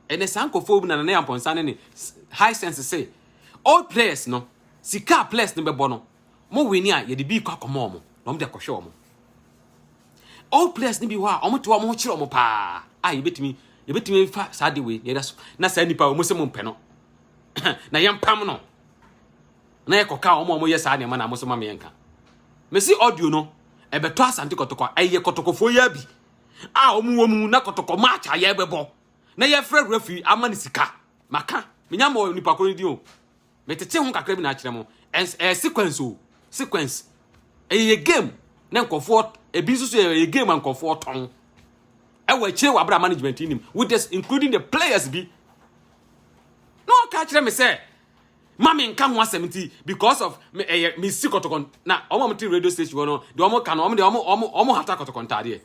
Ɛnɛ saa nkurɔfoɔ na Nana Yampɔnsa ne ne high sense se old players no sika a players no bɛbɔ no mo wini a yɛde bi kɔ akɔma wɔn na wɔn de akɔhwɛ wɔn. Old players no bi hɔ a wɔn te wɔn ho kyerɛ wɔn paa a yɛbɛtumi yɛbɛtumi fa saa de wei na yɛda so na saa nipa wɔn se mo mpɛ no na yɛn pam no na yɛ kɔka wɔn a wɔn yɛ saa nneɛma na wɔn so ma yɛn ka. Mesi audio no ɛbɛtɔ asante kɔtɔkɔ ɛyɛ kɔtɔkɔfoɔ yɛ bi. a wɔn wɔ mu na kɔtɔkɔ march a yɛbɛbɔ na yɛfrɛ referee ama no sika maka menya mɔ nipa koro no din o metete ho kakra bi na akyerɛ mo ɛns ɛyɛ sequence o sequence ɛyɛ yɛ game na nkɔfoɔ ebi nso so yɛ yɛ game a nkɔfoɔ tɔn ɛwɔ akyire wɔ abira management nim with this including the players bi na ɔka kyerɛ me sɛ Ma me nka ho asɛm nti because of me ɛyɛ eh, me si kɔtɔkɔ na wɔn a wɔte radio station hɔ no deɛ wɔn ka no wɔn deɛ wɔn wɔn wɔn hata kɔtɔkɔ ntaadeɛ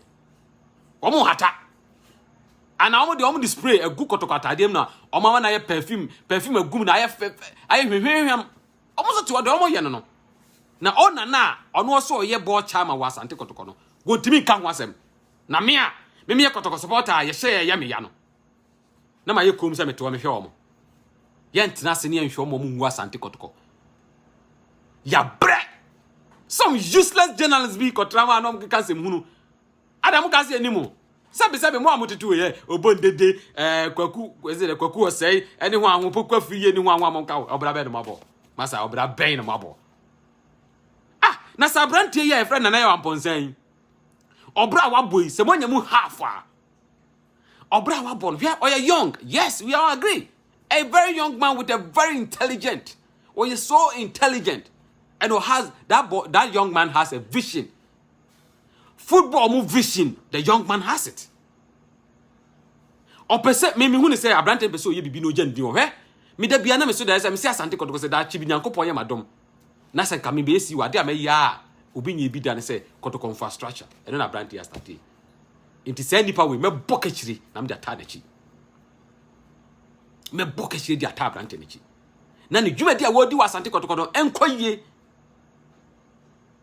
wɔn hata ana wɔn deɛ wɔn de spray agu kɔtɔkɔ ataadeɛ mu na wɔn ama na ayɛ perfume perfume agu mu na ayɛ fɛ fɛ ayɛ hwehwehwɛm wɔn nso te hɔ deɛ wɔn yɛ no no na ɔna na ɔno ɔsɛ ɔyɛ bɔɔl kyaa ma wɔ asante kɔtɔkɔ no wɔntumi nka ho asɛm na me a me meyɛ kɔtɔkɔ supporter a yɛhyɛ yɛyɛ meya no na mayɛ komm sɛ metoɔ mehwɛ wɔn. Yɛntena ase ne yɛnhwɛ wɔn ngu asante kɔtokɔ. Yɛabrɛ. Some useless journalists bi kɔtra hɔ a na wɔkeka nsɛm hunu. Ada mo ka se anim o. Sɛbi sɛbi mo a mo tete yɛ obondede eh kwaku ezi de kwaku ɔsɛe ɛne ho aho pokwa firi yɛ ne ho aho a mo nka ɔbra bɛn no mabɔ. Masa ɔbra bɛn no mabɔ. Ah, na sa abrantie yɛ ɛfrɛ nana yɛ wampɔnsan. Ɔbra wabɔ yi sɛ mo anya mu half a. Ɔbra a wabɔ no, hwɛ ɔyɛ young. Yes, we all agree. A very young man with a very intelligent. Ɔyɛ so intelligent. And has that boy, that young man has a vision. Football mu vision, the young man has it. Ɔpɛ sɛ me mehu ne sɛ aberante pɛ sɛ ɔyɛ biribi na ɔgya ne din wɔ hwɛ. Meda bia na me so da sɛ mesi asante kɔtɔkɔ sɛ daakye bi Nyankopɔn yɛ m'adom. Na sɛ nka mebɛyɛ si wɔ ade a mɛyɛ a obi nyɛ bi da ne sɛ kɔtɔkɔ infrastructure. Ɛno na aberante yɛ astate. Nti saa nipa wei mɛbɔ kakyire na mede ataa n'akyi. Mɛbɔ kakyire de ataa aberante n'akyi. Na ne dwumadi a wɔredi wɔ asante kɔtɔkɔtɔ ɛnkɔ yie.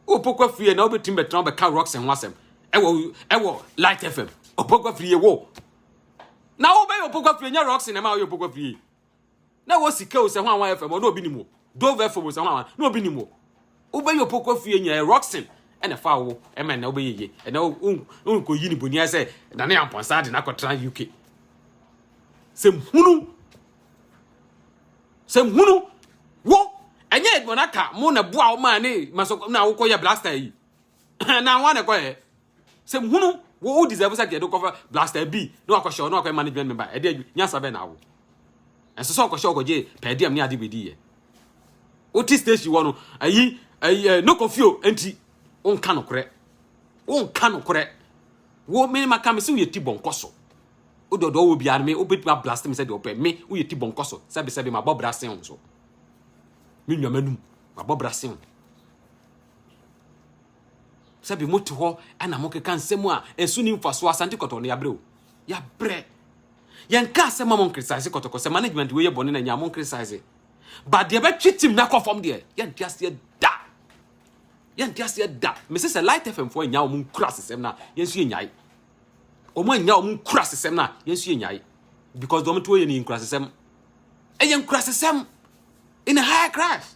Wopokɔ afiri na wobɛtumi bɛtena wobɛka rocks ho asɛm ɛwɔ ɛwɔ light fm opokɔ afiri wo na wobɛyɛ opokɔ afiri nyɛ rocks na ɛma woyɛ opokɔ afiri na wɔ sika o sɛ ho awan fm ɔno obi nim o dove fm o sɛ ho awan na obi nim o wobɛyɛ opokɔ fie nyɛ roxin ɛna fa wo ɛma na wobɛyɛ yie ɛna wonkɔ yi ne bonia sɛ na ne ampɔnsa de nakɔtra uk sɛm hunu sɛm hunu wo ɛnyɛ edmond aka mo na boa wo maa ne masɔkɔ na wokɔyɛ blaster yi na ho anɛkɔyɛ Sɛ hunu wo wo deserve sɛ deɛ de kɔfa blaster bi na wakɔhyɛ ɔno akɔyɛ management member ɛdeɛ adwi nyansa bɛn na awo ɛnso sɛ ɔkɔhyɛ ɔkɔgye per diem ne ade bɛdi yɛ wote station wɔ no ayi ayi eh, no kɔfio nti wonka nokorɛ wonka nokorɛ wo me maka me sɛ woyɛ ti bɔnkɔ so wode ɔdɔ wɔ biara no me wobɛtumi ablast me sɛ deɛ ɔpɛ me woyɛ ti bɔnkɔ so sɛbesɛbe mabɔ bra sen wo so me nnwama num mabɔ bra sen wo Sɛbi mote hɔ na mokeka nsɛm a ɛso ni mfasoɔ, Asante Kɔtɔkɔ no yɛabrɛ o, yɛabrɛ. Yɛnka asɛm ma mo nkritisize Kɔtɔkɔ sɛ management wei yɛ bɔne na nyaa mo nkritisize. Ba deɛ bɛtwe tim no akɔ fam deɛ, yɛnte aseɛ da. Yɛnte aseɛ da. Mese sɛ Light FM foɔ annya wɔn nkura asesɛm no a, yɛn nso yɛnyae. Wɔn annya wɔn nkura asesɛm no a, yɛn nso yɛnyae. Because deɛ wɔn to yɛ no yɛ nkura asesɛm. Ɛyɛ nkura asesɛm in a higher class.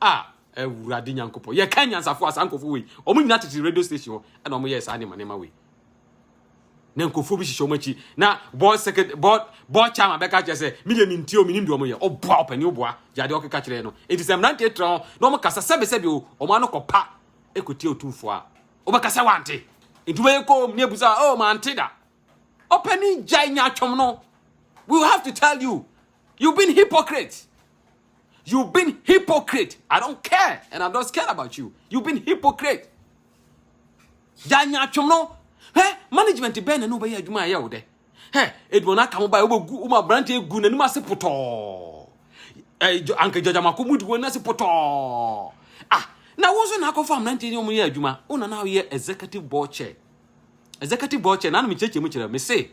ah awurade nyankopɔn yɛka nyansafo a saa nkɔfo wei ɔmo nyina tete radio station hɔ ɛna ɔmo yɛɛ saa nneɛma nneɛma wei na nkɔfo bi hyehyɛ ɔmo akyi na board secretary board board chairman bɛka kyerɛ sɛ me deɛ mentie o menim deɛ ɔmo yɛ ɔboa ɔpani ɔboa gya deɛ ɔkeka kyerɛ no enti sɛ mmerante tra hɔ na ɔmo kasa sɛbe sɛbe o ɔmo ano kɔpa ɛkɔtie otumfoɔ a ɔbɛka sɛ wante enti wobɛyɛ kɔm ne abusa o oh, mante da Ɔpanin gyae nyaatwom no. We will have to tell you. You've been hypocrite. You've been hypocrite. I don't care and I'm not scared about you. You've been hypocrite. Gyae nyaatwom no. Hɛ management bɛn na ne wobɛyɛ adwuma a ɛyɛ wo dɛ. Hɛ eduo no aka mo ba wobɛgu woma aberante egu n'anim ase potɔɔ. Eh, anka gyɔgyamako mu di wɔn ase potɔɔ. Ah, na wo nso na akɔfa aberante ne wɔn yɛ adwuma. Wo na na woyɛ executive board chair. Executive board chair, nanu mekyerɛkyerɛ mu kyerɛ, mese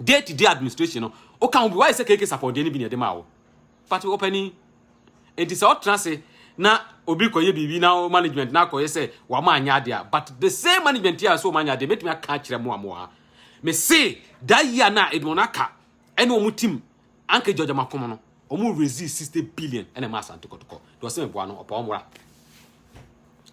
day to day administration no, woka ho bi, wayɛ sɛ KK Sapɔ deɛ no bi na ɛde maa wo. Fati ɔpani, enti sɛ ɔtena ase na obi kɔyɛ biribi na o management na akɔyɛ sɛ wama anyɛ adeɛ a, but the same management a so ɔma anyɛ adeɛ, mɛtumi aka akyerɛ mo a mo wɔ ha. Mese da yi a na Edmond aka ɛne wɔn tim Anka Georgia ma kom no ɔmo raisee sixty billion ɛna ɛma Asante Kɔtɔkɔ deɛ ɔsɛ meboa no ɔpɛ ɔmora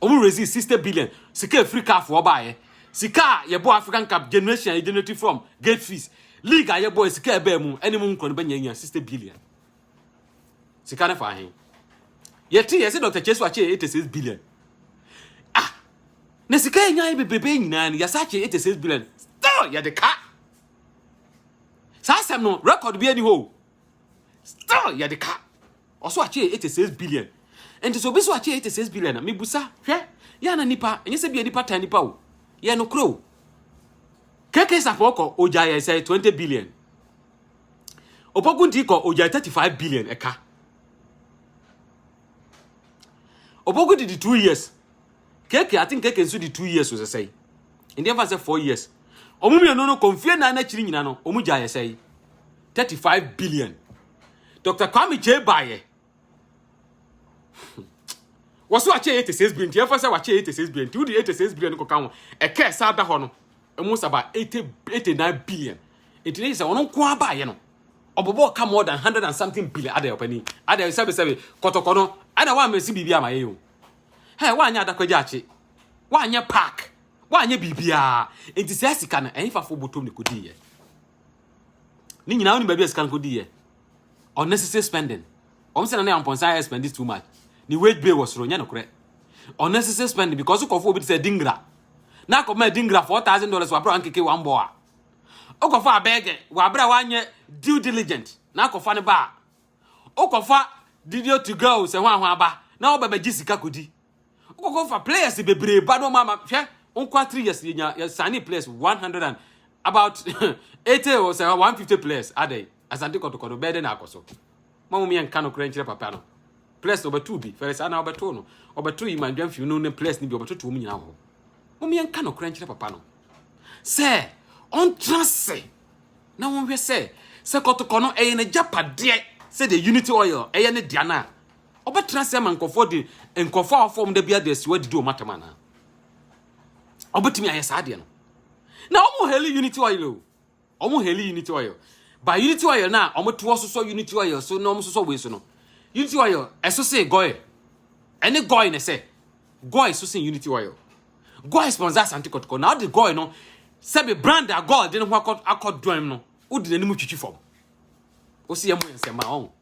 ɔmo raisee sixty billion sika efiri kaafoɔ baayɛ sika a yɛbɔ African Cup generation a yɛgenerate from gate fees league a yɛbɔ sika ɛbɛɛ mu ɛne mo nkura no bɛnya nya sixty billion sika ne fa ahen yɛte yɛsɛ Dr. Chesu akyɛ eighty six billion ah na sika yɛnya yɛ bebrebe nyinaa no yɛsa akyɛ eighty six billion still yɛde ka saa asɛm no record bi ani hɔ o still yɛde ka ɔso akyɛ 86 billion nti so obi so akyɛ 86 billion na mebusa hwɛ yɛ na nipa ɛnyɛ sɛ bia nipa tan nipa o yɛ no koro keke sapɔ kɔ ogya yɛ sɛ 20 billion opokunti kɔ ogya 35 billion ɛka opokunti di 2 years KK I think KK nso di two years o sɛsɛe. Ndi ɛmfa sɛ four years. Wɔn mmienu no kɔ mfie nan n'akyiri nyina no wɔn gya yɛ sɛe. Thirty five billion. Dr. Kwame Kyei baayɛ. Wɔso akyɛ eighty six billion nti ɛmfa sɛ wakyɛ eighty six billion nti wodi eighty six billion no kɔka ho ɛkɛ ɛsa da hɔ no ɛmu saba eighty eighty nine billion nti ne yɛ sɛ ɔno nko ara baayɛ no ɔbɔbɔ ɔka more than hundred and something billion adɛ ɔpɛni adɛ sɛbisɛbi kɔtɔkɔ no ɛna wɔn amesi biribi ama yɛ yɛ o. Hey, woanyɛ adakwagyakye, woanyɛ park, woanyɛ biribiara. Enti saa sika no, ɛhefafo botom ne kodiiɛ? Ne nyinaa wonim baabi a sika no kodiiɛ. Unnecessary spending. Wɔn sɛ na ne ampɔnsa ayɛ spend this too much. Ne wage bill wɔ soro, nyɛ nokorɛ. Unnecessary spending because kɔfo obi te sɛ dingra. Na akɔma dingra four thousand dollars wɔ abira nkeke wɔn bɔ a. Okɔfo abɛɛgɛ wɔ abira wɔanyɛ due diligent. Na akɔfa ne ba a. Wokɔfa Didio to go sɛ hwan hwan aba na wɔba bɛgye sika kodi. Wokɔkɔ fa players bebree ba na wɔn ama hwɛ nkwa three years yɛ nya yɛ sani players one hundred and about eighty or sɛ one fifty players adɛ asante kɔtɔkɔtɔ bɛyɛ dɛ na akɔ so. Mo mo yɛ nka no korɛ nkyerɛ papa no. Players na ɔbɛto bi fɛrɛ saa na ɔbɛto no ɔbɛto yi mandwa mfiw no ne players ni bi ɔbɛtoto wɔn nyinaa wɔ hɔ. Mo mo yɛ nka no korɛ nkyerɛ papa no. sɛ ɔntena ase na wɔnhwɛ sɛ sɛ kɔtɔkɔ no ɛyɛ n'agyapadeɛ sɛdeɛ unity oil ɛyɛ ne dea no a ɔbɛtena ase ama nkurɔfoɔ de nkurɔfoɔ a wɔfɔm da biara de asiwa didi wɔn atam anaa ɔbɛtumi ayɛ saa adeɛ no na wɔn hɛli unity oil o wɔn heli unity oil ba unity oil na wɔn to ɔsosɔ unity oil so na wɔn sosɔ wei so no unity oil ɛso se gɔɛ ɛne gɔɛ na ɛsɛ gɔɛ so se unity oil gɔɛ sponsor asante kɔtɔkɔ na ɔde gɔɛ no sɛbi brand a gɔɛ de ne ho akɔ akɔ dɔm no ɔdi n'anim twitwi fam ɔsi yɛn mo yɛn nsɛm a ɔn.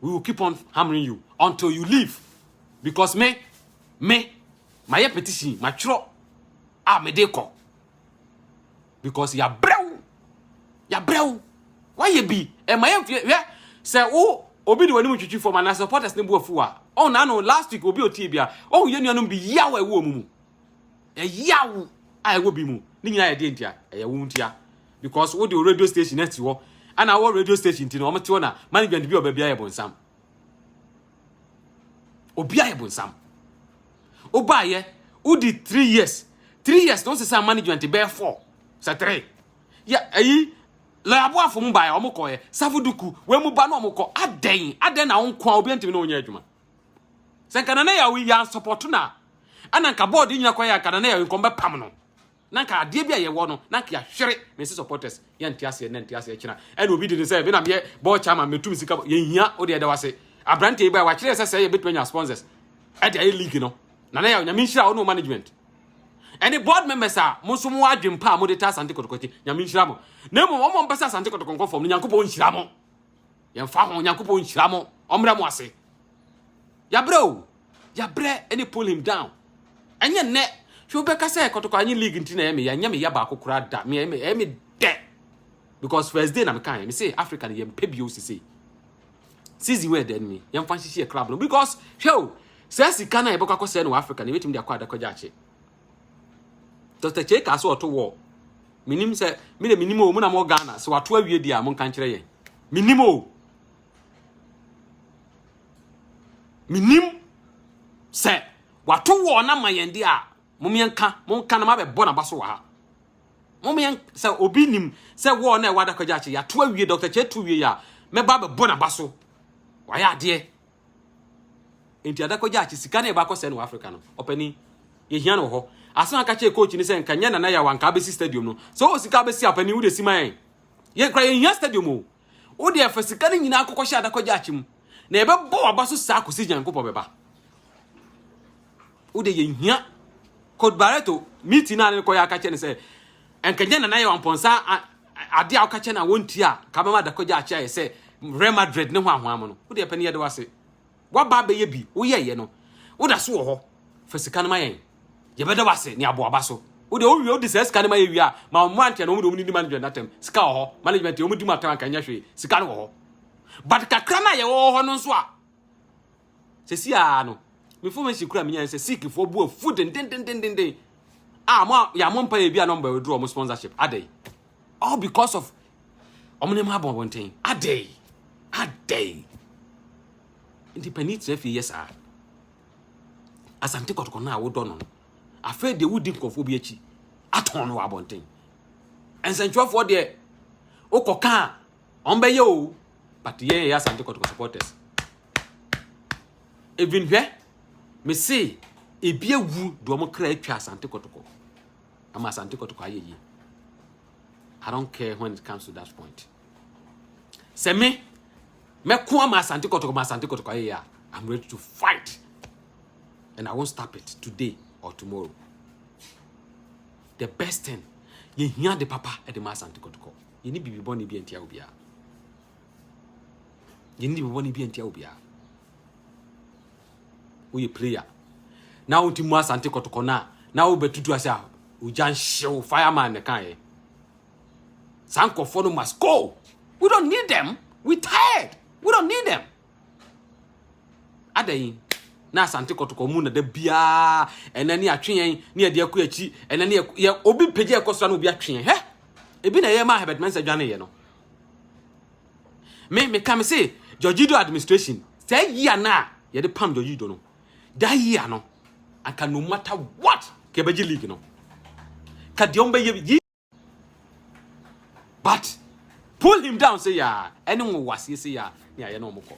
we will keep on hammering you until you leave because me me mayɛ petition matwerɛ a mede kɔ because yɛabrɛ wo yɛabrɛ wo woayɛ bi ɛma yɛ hwɛ sɛ wo obi de w'anim twitwi fam anaa supporters ne bu afu a ɔn na no last week obi otie bia ɔn yɛ nuanom bi yaw a ɛwɔ mu mu ɛyaw a ɛwɔ bi mu ne nyinaa yɛ deɛ ntia ɛyɛ wo ntia because wode wo radio station asi hɔ ana wɔ radio station ti no wɔn te hɔ na management bi wɔ baabi ayɛ bonsam obi ayɛ bonsam wobaayɛ wodi three years three years na wɔn sesa management bɛyɛ four sɛ three yɛ ayi lɔyaboafo mu baayɛ wɔn kɔɛ safoduku wɔn mu ba na wɔn kɔ adɛn adɛn na wɔn kɔ a obi ntumi na wɔn nyɛ adwuma. sɛ nka nana yaw yɛ ansɔpɔto na ɛna nka bɔɔde nyina kɔ yɛ nka nana yaw nkɔm bɛpam no na nka adeɛ bi a yɛwɔ no na nka yɛahwere me se supporters yɛnte aseɛ na nte aseɛ kyena ɛna obi de ne sɛ me na meyɛ bɔɔ kyama metum sika yɛhia wode ɛda wase aberante yi baa wakyerɛ sɛ sɛ yɛbɛtumi anya sponsors ɛde ayɛ league no nana yaw nyame nhyira wo ne management ɛne board members a mo nso mo adwen pa a mode ta asante kɔtɔkɔte nyame nhyira mo na mmom ɔmɔ mpɛ sɛ asante kɔtɔkɔnkɔ fam no nyankopɔn nhyira mo Yɛmfa ho, Nyankopɔn nhyira mo, ɔmmrɛ mo ase. Yɛabrɛ o, yɛabrɛ ɛne pull him down. Ɛnyɛ nnɛ, hwɛ wobɛka sɛ kɔtɔkɔ anyi league nti na ɛyɛ me ya, ɛnyɛ me ya baako koraa da, me ɛyɛ me dɛ. Because first day na me kan, me say Africa no yɛmpɛ bio sisi. Season where then me, yɛmfa nhyehye yɛ club no because hwɛ o, sɛ sika na yɛbɛkɔ akɔsɛ no wɔ Africa no yɛbɛtumi de akɔ adakɔgya akye. Dɔkta Kyei kaa sɛ ɔto wɔɔ. Menim sɛ, me de menim o, mo na mo Ghana, sɛ wato awie deɛ a, mo nka nkyerɛ yɛn. Menim o. Menim sɛ wato wɔɔ na ma yɛn deɛ a, mo meɛ nka, mo nka na mabɛbɔ na ba so wɔ ha. Mo meɛ sɛ obi nim sɛ wɔɔ na ɛwɔ adakagya akyi, yɛato awie, Dɔkta Kyei to wie a, mɛba bɛbɔ na ba so. Wayɛ adeɛ. Enti ada kɔgye akye sika na yɛbakɔ sɛ no wɔ Africa no. Ɔpani, yɛhia no wɔ hɔ. Asɛm a nka kyerɛ coach ne sɛ nka nyɛ Nana Yaw anka abɛsi stadium no. Sɛ ɔwɔ sika abɛsi a ɔpani wode si ma yɛn. Yɛn kora yɛnhia stadium o. Wode ɛfa sika no nyinaa kɔkɔhyɛ ada kɔgye akye mu. Na yɛbɛbɔ waba so saa kɔsi Nyankopɔn bɛba. Wode yɛnhia Coach Barreto meeting no a ne kɔyɛ aka kyerɛ ne sɛ nka nyɛ Nana Yaw ampɔnsa Ade a woka kyerɛ no a wontie a nka bɛma adakɔgya akye ayɛ sɛ Real Madrid ne hoahoa mo no, wode ɛpɛ ne yɛde wase. Woaba abɛyɛ bi, woyɛeɛ no, woda so wɔ hɔ. Fa sika no ma yɛn, yɛbɛda wase ne aboaba so. Wode wowie wode saa sika no ma yɛ wie a, ma wɔn mmeranteɛ no wɔn de wɔn nidi management no atɛm. Sika wɔ hɔ, management yɛ wɔn di mu atɛm anka ɛnyɛ hwee, sika no wɔ hɔ. But kakra no a yɛwɔ wɔ hɔ no nso a, Sɛsi ara no, me information kura menyae sɛ Sikhfoɔ bu afu dendendendenden a mo a yɛamɔ mpa yɛ bi a na ɔmbɛ withdraw ɔmo sponsorship adɛn all because of ɔmo nneɛma abɔ abɔnten adɛn adɛn nti panin tena fie yɛ saa asante kɔtɔkɔ no a wodɔ no no afei deɛ wodi nkurɔfoɔ bi akyi atɔn no wɔ abɔnten nsɛntwerɛfoɔ deɛ wokɔka a ɔmbɛyɛ o but yɛn yɛ asante kɔtɔkɔ supporters even hwɛ me se ebi awu de wɔn kra atwa asante kɔtɔkɔ ama asante kɔtɔkɔ ayɛ yie i don't care when it comes to that point sɛ me mɛko ama asante kɔtɔkɔ ma asante kɔtɔkɔ ayɛ yie a i'm ready to fight and i won't stop it today or tomorrow the best thing yɛhia de papa de ma asante kɔtɔkɔ yɛne biribi bɔne bi antia obiara Yɛn ni bɔbɔ ne bi antia obiara. Woyɛ player. Na wo ti mu asante kɔtɔkɔ na na wo bɛtutu ase a ogya nhyew fireman ne kan yɛ. Saa nkurɔfoɔ no must go. We don't need them. We tired. We don't need them. Adɛn na asante kɔtɔkɔ mu na da biara ɛnɛ ne atwe yɛn ne yɛde akɔ akyi ɛnɛ ne yɛ obi pagya ɛkɔ so na obi atwe yɛn hɛ ebi na ɛyɛ ma ahɛbɛtmɛnsa dwane yɛ no me me ka me se George Ido administration saa yia na yɛde pam George Ido no da yia no anka no matter what ka yɛbɛgye league no ka deɛ ɔmbɛyɛ yi but pull him down sɛ yaa ɛne wo waseɛ sɛ yaa ne ayɛ na ɔmokɔ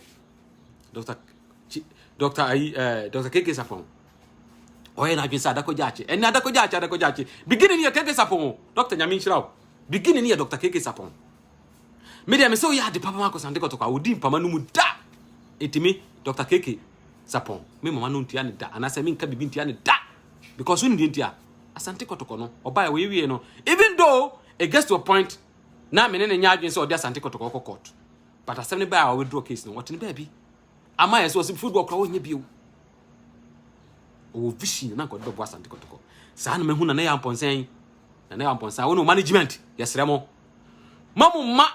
dr dr ayi eh, dr keke sapɔn ɔyɛ n'adwene sɛ adakɔgya akye ɛne adakɔgya akye adakɔgya akye beginning yɛ keke sapɔn dr nyame nhyira wo Beginning no yɛ Doctor KK Sapɔn. Me deɛ me sɛ woyɛ ade papa ma akɔsante kɔtɔkɔ a wodi mpama no mu da. Enti me Doctor KK Sapɔn me mama no ntua ne da anaasɛ menka biribi ntua ne da. Because wonim deɛ nti a asante kɔtɔkɔ no ɔbaeɛ wɔyɛ wie no even though it gets to a point na me ne ne nyɛ adwene sɛ ɔde asante kɔtɔkɔ kɔ court but asɛm ne baa a ɔwithdraw case no ɔte ne baabi. Ama yɛ sɛ ɔsɛ before du ɔkora ɔnyɛ bio. Ɔwɔ vision na nkɔde bɛbɔ asante kɔtɔkɔ. Saa na mahu na na yɛ ampɔnsɛn. Na na yɛ ampɔnsɛn. Wɔn management yɛsrɛ mo. Ma mo ma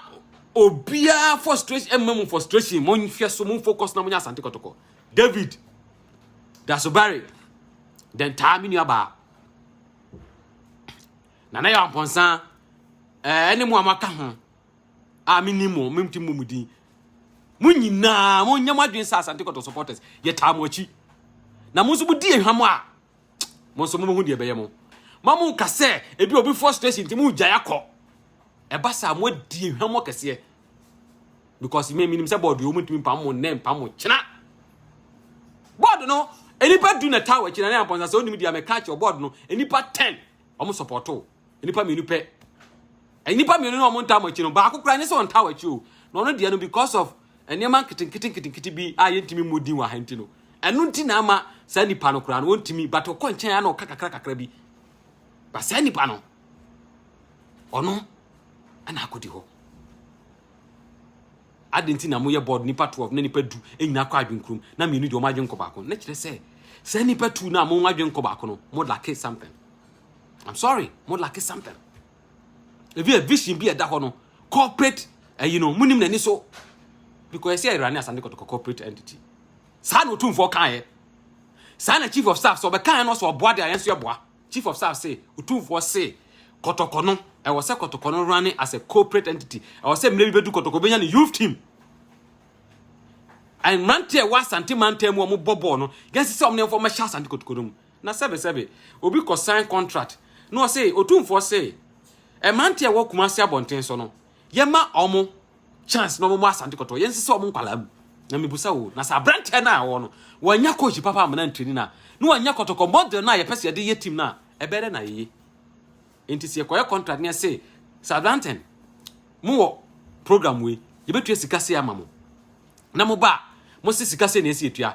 obiara frustration ɛmma mu frustration. Mo nhwɛ so mo focus na mo nyɛ asante kɔtɔkɔ. David Dasobari den taa me nua baa. Na na yɛ ampɔnsɛn. Ɛɛ ne mo amaka ho. a menim mo, mentumi mmɔ mo din. Mo nyinaa, monyɛ mo adwene sɛ Asante Kɔtɔ supporters, yɛtaa mo akyi. Na mo nso modi ehwam a, mo nso mobɛhu deɛ ɛbɛyɛ mo. Ma mo nka sɛ ebi obi frustration nti mo gyae akɔ. Ɛba saa mo adi ehwam mo kɛseɛ. Because me menim sɛ bɔɔdo yɛ wɔn ntumi mpam mo nnɛ mpam mo kyena. Bɔɔdo no nipa du na taa wɔ akyi na ne ampɔnsa sɛ onim deɛ mɛka akyerɛ bɔɔdo no nipa ten wɔn supporto. nnipa mmienu pɛ nnipa mmienu na wɔn ntaa wɔn akyi no baako koraa ne sɛ wɔntaa wɔn akyi o na ɔno deɛ no because of nneɛma nketenkete nketenkete bi a yɛntumi mmɔ din wɔ ha nti no ɛno nti na ama saa nipa no koraa no wɔntumi but ɔkɔ nkyɛn a na ɔka kakra kakra bi ba saa nipa no ɔno ɛna akɔdi hɔ adi nti na moyɛ board nipa twelve na nipa du nyinaa kɔ adwenkurom na mmienu deɛ wɔn adwenkɔ baako na kyerɛ sɛ saa nipa tu na wɔn adwenkɔ baako no mo lake something I'm sorry, mo lack something. If you a vision be a da hono, corporate, uh, you know, munim nani so. Because I say Irani as an corporate entity. Saa no tum for kan Saa na chief of staff so bɛkan no so ɔboa de ayɛ nso ɛboa. Chief of staff say tum for say kɔtɔkɔ no ɛwɔ sɛ kɔtɔkɔ no running as a corporate entity. Ɛwɔ sɛ mmerɛ bi bɛdu kɔtɔkɔ bɛnya ne youth team. And mmeranteɛ ɛwɔ asante mantam mu a wɔbɔ bɔɔl no, yɛn sɛ sɛ wɔn ne mfa wɔn hyɛ asante kɔtɔkɔ no mu. Na sɛbesɛbe, obi kɔ sign contract na ɔse Otumfoɔ se, mmranteɛ a ɛwɔ Kumasi abɔnten so no, yɛma wɔn chance na wɔmmɔ Asante Kɔtɔɔ, yɛnsesa wɔn nkwadaa mu. Na mebusa o, na sɛ abranteɛ no a ɔwɔ no, wannya coach papa amena ntraining a, na wannya kɔtɔkɔ model no a yɛpɛ sɛ yɛde yɛ team no a, ɛbɛyɛ dɛ na yɛye? Enti sɛ yɛkɔyɛ contract na yɛse, Southampton, mowɔ program wei, yɛbɛtua sika sei ama mo, na moba a, mose sika sei na ɛsɛ yɛtua,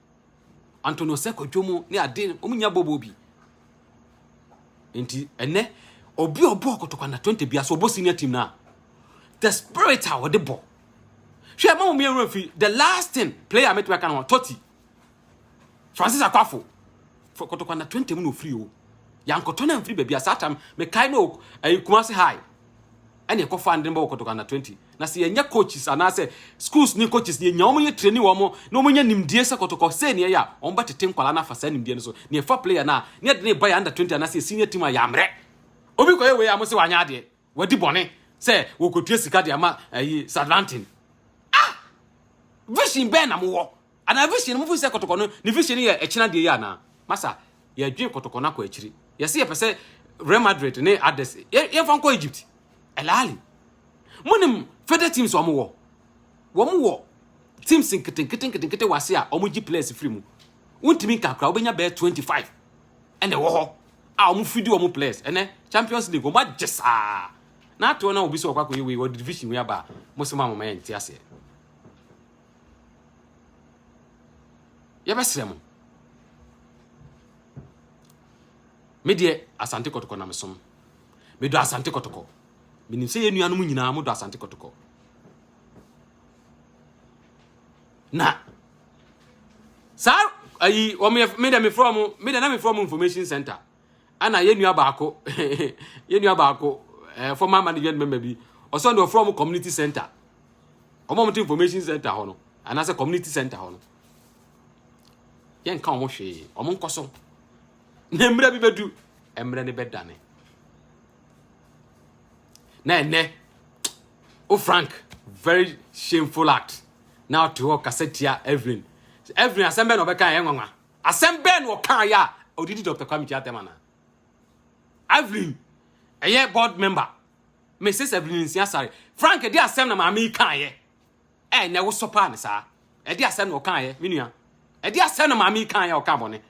Anto no sɛ kwadwo mu ne ade no, wɔn nya bɔbɔ bi. Nti ɛnɛ, obi a ɔbɔ kotokwa na 20 bia so ɔbɔ senior team na. The spirit a wɔde bɔ. Hwɛ ma wɔn yɛn fi the last thing player metumi aka no Totti. Francis Akwafo. For kotokwa na 20 mu na ofiri o. Yankɔtɔ na mfiri baabi a saa tam mekae no ɛyi Kumasi High. ɛna ɛkɔfa ndene bɔ wɔ Kotoko Under 20 na sɛ yɛnyɛ coaches anaasɛ schools ne coaches yɛnya wɔn yɛ training wɔn na wɔn nya nimdie sɛ Kotoko sei ne ɛyɛ a wɔn bɛtete nkwadaa no afa saa nimdie no so na yɛfa player no a na yɛde no reba yɛ Under 20 anaasɛ yɛ senior team a yɛammrɛ obi kɔyɛ wei a mo sɛ wanyɛ adeɛ wadi bɔne sɛ wɔkɔtua sika de ama ayi Sadlantin ah vision bɛn na mowɔ Anaa vision no, mofiri sɛ kɔtɔkɔ no, ne vision no yɛ ɛkyena deɛ yi anaa? Masa, yɛdwen kɔtɔkɔ no akɔ akyiri. Yɛse yɛpɛ sɛ Real Madrid ne others, yɛmfa nkɔ Egypt. Al Ahly. Monim further teams wɔn wɔ? Wɔn wɔ teams nketenkete nketenkete wɔ ase a wɔn gye players firi mu. Wontumi nka koraa, wobɛnya bɛyɛ 25 ɛna ɛwɔ hɔ a wɔn fidi wɔn players. Ɛnɛ Champions League wɔn agye saa. Na atoɔ na obi sɛ ɔkɔ akɔyɛ wei, wɔde division wei aba a, mo sɛ mo amama yɛn nte aseɛ. yɛbɛsrɛ mo me deɛ asante kɔtɔkɔ na mesom medɔ asante kɔtɔkɔ menim sɛ yɛ nuanom nyinaa modɔ asante kɔtɔkɔ na saa ayi wɔn me deɛ mefrɛ mo me deɛ na mefrɛ mo information center ɛna yɛn nua baako yɛn nua baako ɛɛ former management member bi ɔsɔn de ɔfrɛ wɔn community center wɔn a wɔte information center hɔ no anaasɛ community center hɔ no yɛnka wɔn hwee wɔn nkɔ so na mmerɛ bi bɛdu mmerɛ no bɛdane na ɛnɛ o frank very shameful act na ɔte hɔ kasa tia evelyn evelyn asɛm bɛn na ɔbɛka yɛn nwanwa Asɛm bɛn na ɔkaeɛ a ɔde di Doctor Kwame Gyaatam anaa? Evelyn ɛyɛ board member, Mrs Evelyn Nsia Sare. Frank ɛde asɛm na maame yi kaeɛ a ɛnɛ wo sɔ paa ne saa? Ɛde asɛm na ɔkaeɛ, me nua. Ɛde asɛm na maame yi kaeɛ a ɔka bɔne.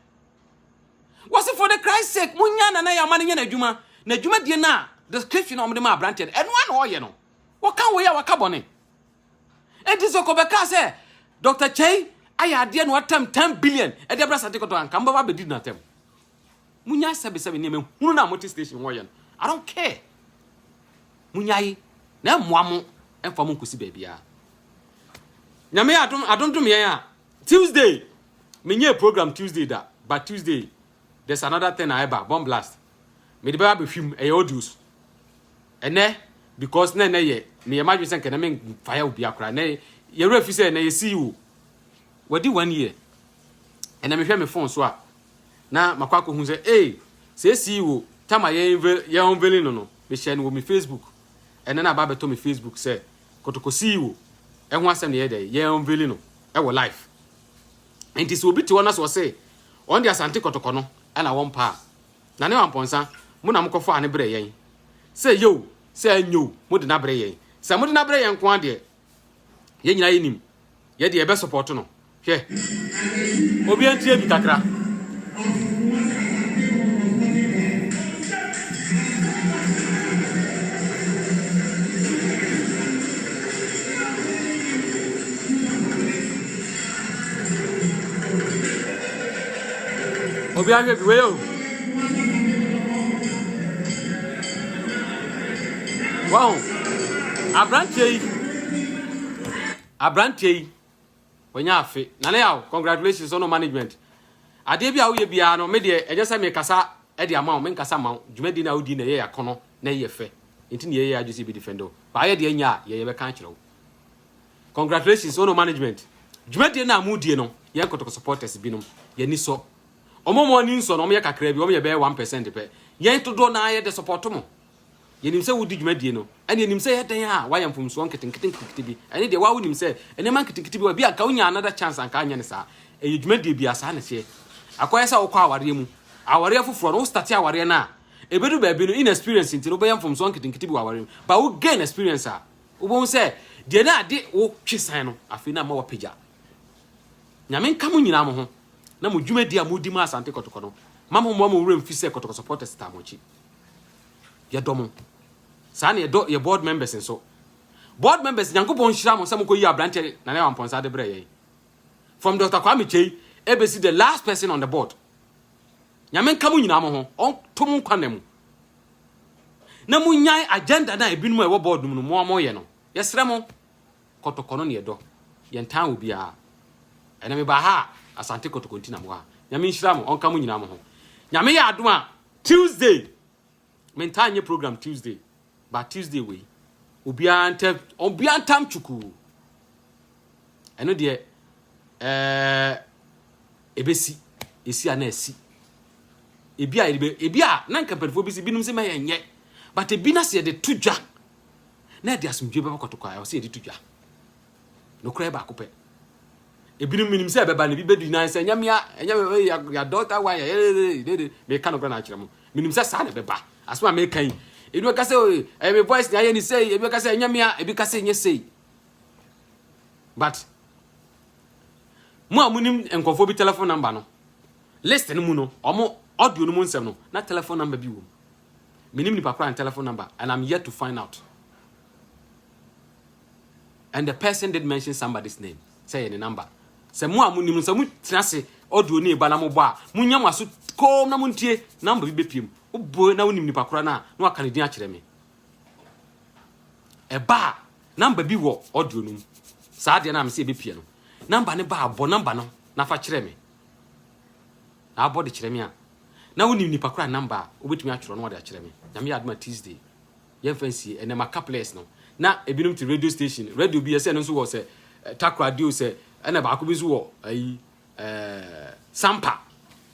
Wɔsi for the Christ sake, mo nya nana yɛ ama no nyɛ n'adwuma. N'adwuma die no a description a wɔde ma aberanteɛ no, ɛno a na ɔyɛ no. Wɔka wei a waka bɔne. Enti sɛ kɔbɛkaa sɛ Dr. Kyei ayɛ adeɛ na watam 10 billion ɛde abra sante kɔtɔ anka mobɛba abɛdi natam. Munya sɛbesɛbe nneɛma hunu na mote station hɔ yɛ no. I don't care. Munyae na ɛmmoa mo ɛmfa mo nkosi baabiara. Nyame adom adondom yɛn a Tuesday menyɛ program Tuesday da but Tuesday there's another thing a ɛba bomb blast. Mede bɛba abɛhwi mu, ɛyɛ audio so. Ɛnɛ, because na ɛnɛ yɛ, meyɛ m'adwene sɛ nkɛnɛ me fire obi akora. Ɛnɛ, yɛwerɛ fi sɛ ɛnɛ yɛ CEO. Wadi one year. Ɛnɛ mehwɛ me phone so a, na makɔ akɔhu sɛ, ee, sɛ CEO, tama yɛ yɛ unveiling no no, mehyɛ no wɔ me Facebook. Ɛnɛ na aba abɛtɔ me Facebook sɛ, kotoko CEO, ɛho asɛm na yɛ dɛ, yɛ unveiling no, ɛwɔ life. Nti sɛ obi te hɔ na sɛ ɔse, ɔn de asante kɔtɔkɔ no, ɛna wɔmpa a, Na ne wampɔnsa, mo na mokɔfaa no brɛɛ yɛn. Sɛ ɛyɛ o, sɛ anyɛ o, mode no abrɛ yɛn. Sɛ mode no abrɛ yɛn nko ara deɛ, yɛn nyinaa yɛnim. Yɛn deɛ, yɛbɛsɔpɔɔto no. Hwɛ! Obiara ntie bi kakra. Obi ahwɛ bi wei o. Wow. Abranteɛ yi. Abranteɛ yi. Wanya afe. Nane yaw. Congratulations on management. Adeɛ bi a woyɛ biara no me deɛ ɛnyɛ sɛ me kasa ɛde ama wo me nkasa ma wo. Dwumadi na wodi na ɛyɛ yakono na ɛyɛ fɛ. Nti ne yɛyɛ adwese bi defend wo. Baayɛ deɛ nya a yɛyɛ bɛka akyerɛ wo. Congratulations Ono management dwumadie no a mo die no yɛn kotoko supporters binom yɛn ani sɔ wɔn a wɔn ani nsɔ no wɔn yɛ kakra bi wɔn yɛ bɛyɛ 1% pɛ yɛn dodoɔ naa yɛ de support mo yɛnim sɛ wodi dwumadie no ɛne yɛnim sɛ yɛ dɛn a wayɛ mfomsoɔ nketenkete nketenkete bi ɛne deɛ wawo nim sɛ nneɛma nketenkete bi wɔ bi anka wonya another chance anka anyɛ ne saa ɛyɛ dwumadie bi a saa ne teɛ akɔyɛ sɛ wokɔ awareɛ mu awareɛ foforɔ no wo starte awareɛ no a ɛbɛdu baabi no inexperience nti no wobɛyɛ mfomsoɔ nketenkete bi wɔ awareɛ mu ba wo gain experience a Wobɛhu sɛ deɛ na ade wo twe san no, afei na ama wapagya. Nyame nka mo nyinaa mo ho na mo dwumadi a modi ma Asante Kɔtɔkɔ no ma mo mmoa mo werɛ mfi sɛ Kɔtɔkɔ supporters taa mo akyi. Yɛdɔ mo. Saa na yɛdɔ yɛ board members nso. Board members Nyankopɔn nhyira mo sɛ mokɔyi aberanteɛ Nana Yaw Ampɔnsa de brɛ yɛn. From Dr. Kwame Kyei ɛbɛsi the last person on the board. Nyame nka mo nyinaa mo ho, ɔnto mo nkwa nna mu. Na monyae agenda no a ebinom a ɛwɔ board no mu no moa moyɛ no. Yɛsrɛ mo, Kɔtɔkɔ no na yɛdɔ. Yɛntaa obiara. Ɛnɛ mebaa ha a, Asante Kɔtɔkɔ nti na mewɔ ha. Nyame nhyira mo, ɔnka mo nyinaa mo ho. Nyame yɛ adom a, Tuesday, mentaa nyɛ program Tuesday, but Tuesday wei, obiara ntɛ, obiara ntam twukuu. Ɛno deɛ ɛɛ ɛbɛsi ɛsi a na ɛsi ebi a yɛde ebi a na nka mpanyinfoɔ bi si binom sɛ mɛyɛ nyɛ but ebi na sɛ yɛde to dwa na yɛde asomdwe bɛba kɔtɔkɔ a ɔsɛ yɛde to dwa nokorɛ baako pɛ ebinom minim sɛ ɛbɛba no bi bɛdi nan sɛ ɛnyɛ mea ɛnyɛ mea yɛ dɔta wa yɛ yɛdede meka nokorɛ na akyerɛ mo minim sɛ saa na ɛbɛba asoma meka yi ebi bɛka sɛ ɛyɛ me voice na ayɛ ne sei ebi bɛka sɛ ɛnyɛ mea ebi ka sɛ ɛnyɛ sei but mo a munim nkurɔfoɔ bi telephone number no list no mu no ɔmo audio no mu nsɛm no na telephone number bi wɔ mu menim nipa koraa telephone number and i'm yet to find out and the person did mention somebody's name sɛ yɛ ne number sɛ mo a munim no sɛ motena se audio no ɛba na mobɔ a monya mo aso koom na montie number bi bɛpiem wobɔ na wonim nipa koraa no a na waka ne din akyerɛ me ɛba a Number bi wɔ audio no mu. Saa deɛ no a mese yɛbɛpie no, number no baa bɔ number no na fa kyerɛ me. Na abɔ de kyerɛ me a, na wonim nipa kora number a wobɛtumi atwerɛ no ɔde akyerɛ me. Nyame yɛ adom a Tuesday, yɛmfa nsie, ɛnɛ maka players no. Na ebinom te radio station, radio bi ɛsɛ ɛno nso wɔ sɛ eh, takoradi o sɛ, ɛna baako bi nso wɔ ayi, eh, sampa.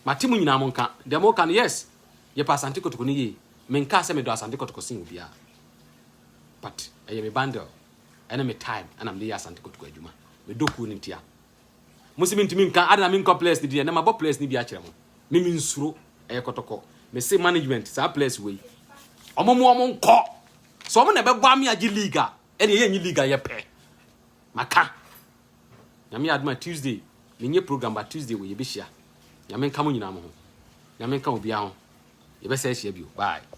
Mate mo nyinaa mo nka, deɛ mo ka no yes, yɛpɛ asante kotoko no yie. Menkaa sɛ medɔ asante kotoko sen obiara. but ɛyɛ me bundle ɛne me time ɛna mede yɛ Asante Kotoko adwuma. Medɔ kuo no ntia. Mo se mentumi nka adana menkɔ players no bi ɛnɛ mabɔ players no bi akyerɛ mo. Me mensuro ɛyɛ kɔtɔkɔ. Me se management saa players wei ɔmo mo ɔmo nkɔ. Sɛ ɔmo na ɛbɛboa me agye league a ɛne ɛyɛ nye league a yɛpɛ. Maka. Nyame adoma Tuesday menye program ba Tuesday wei yɛbɛhyia. Nyame nka mo nyinaa mo ho. Nyame nka obiara ho. Yɛbɛsɛ ahyia bio. Bye.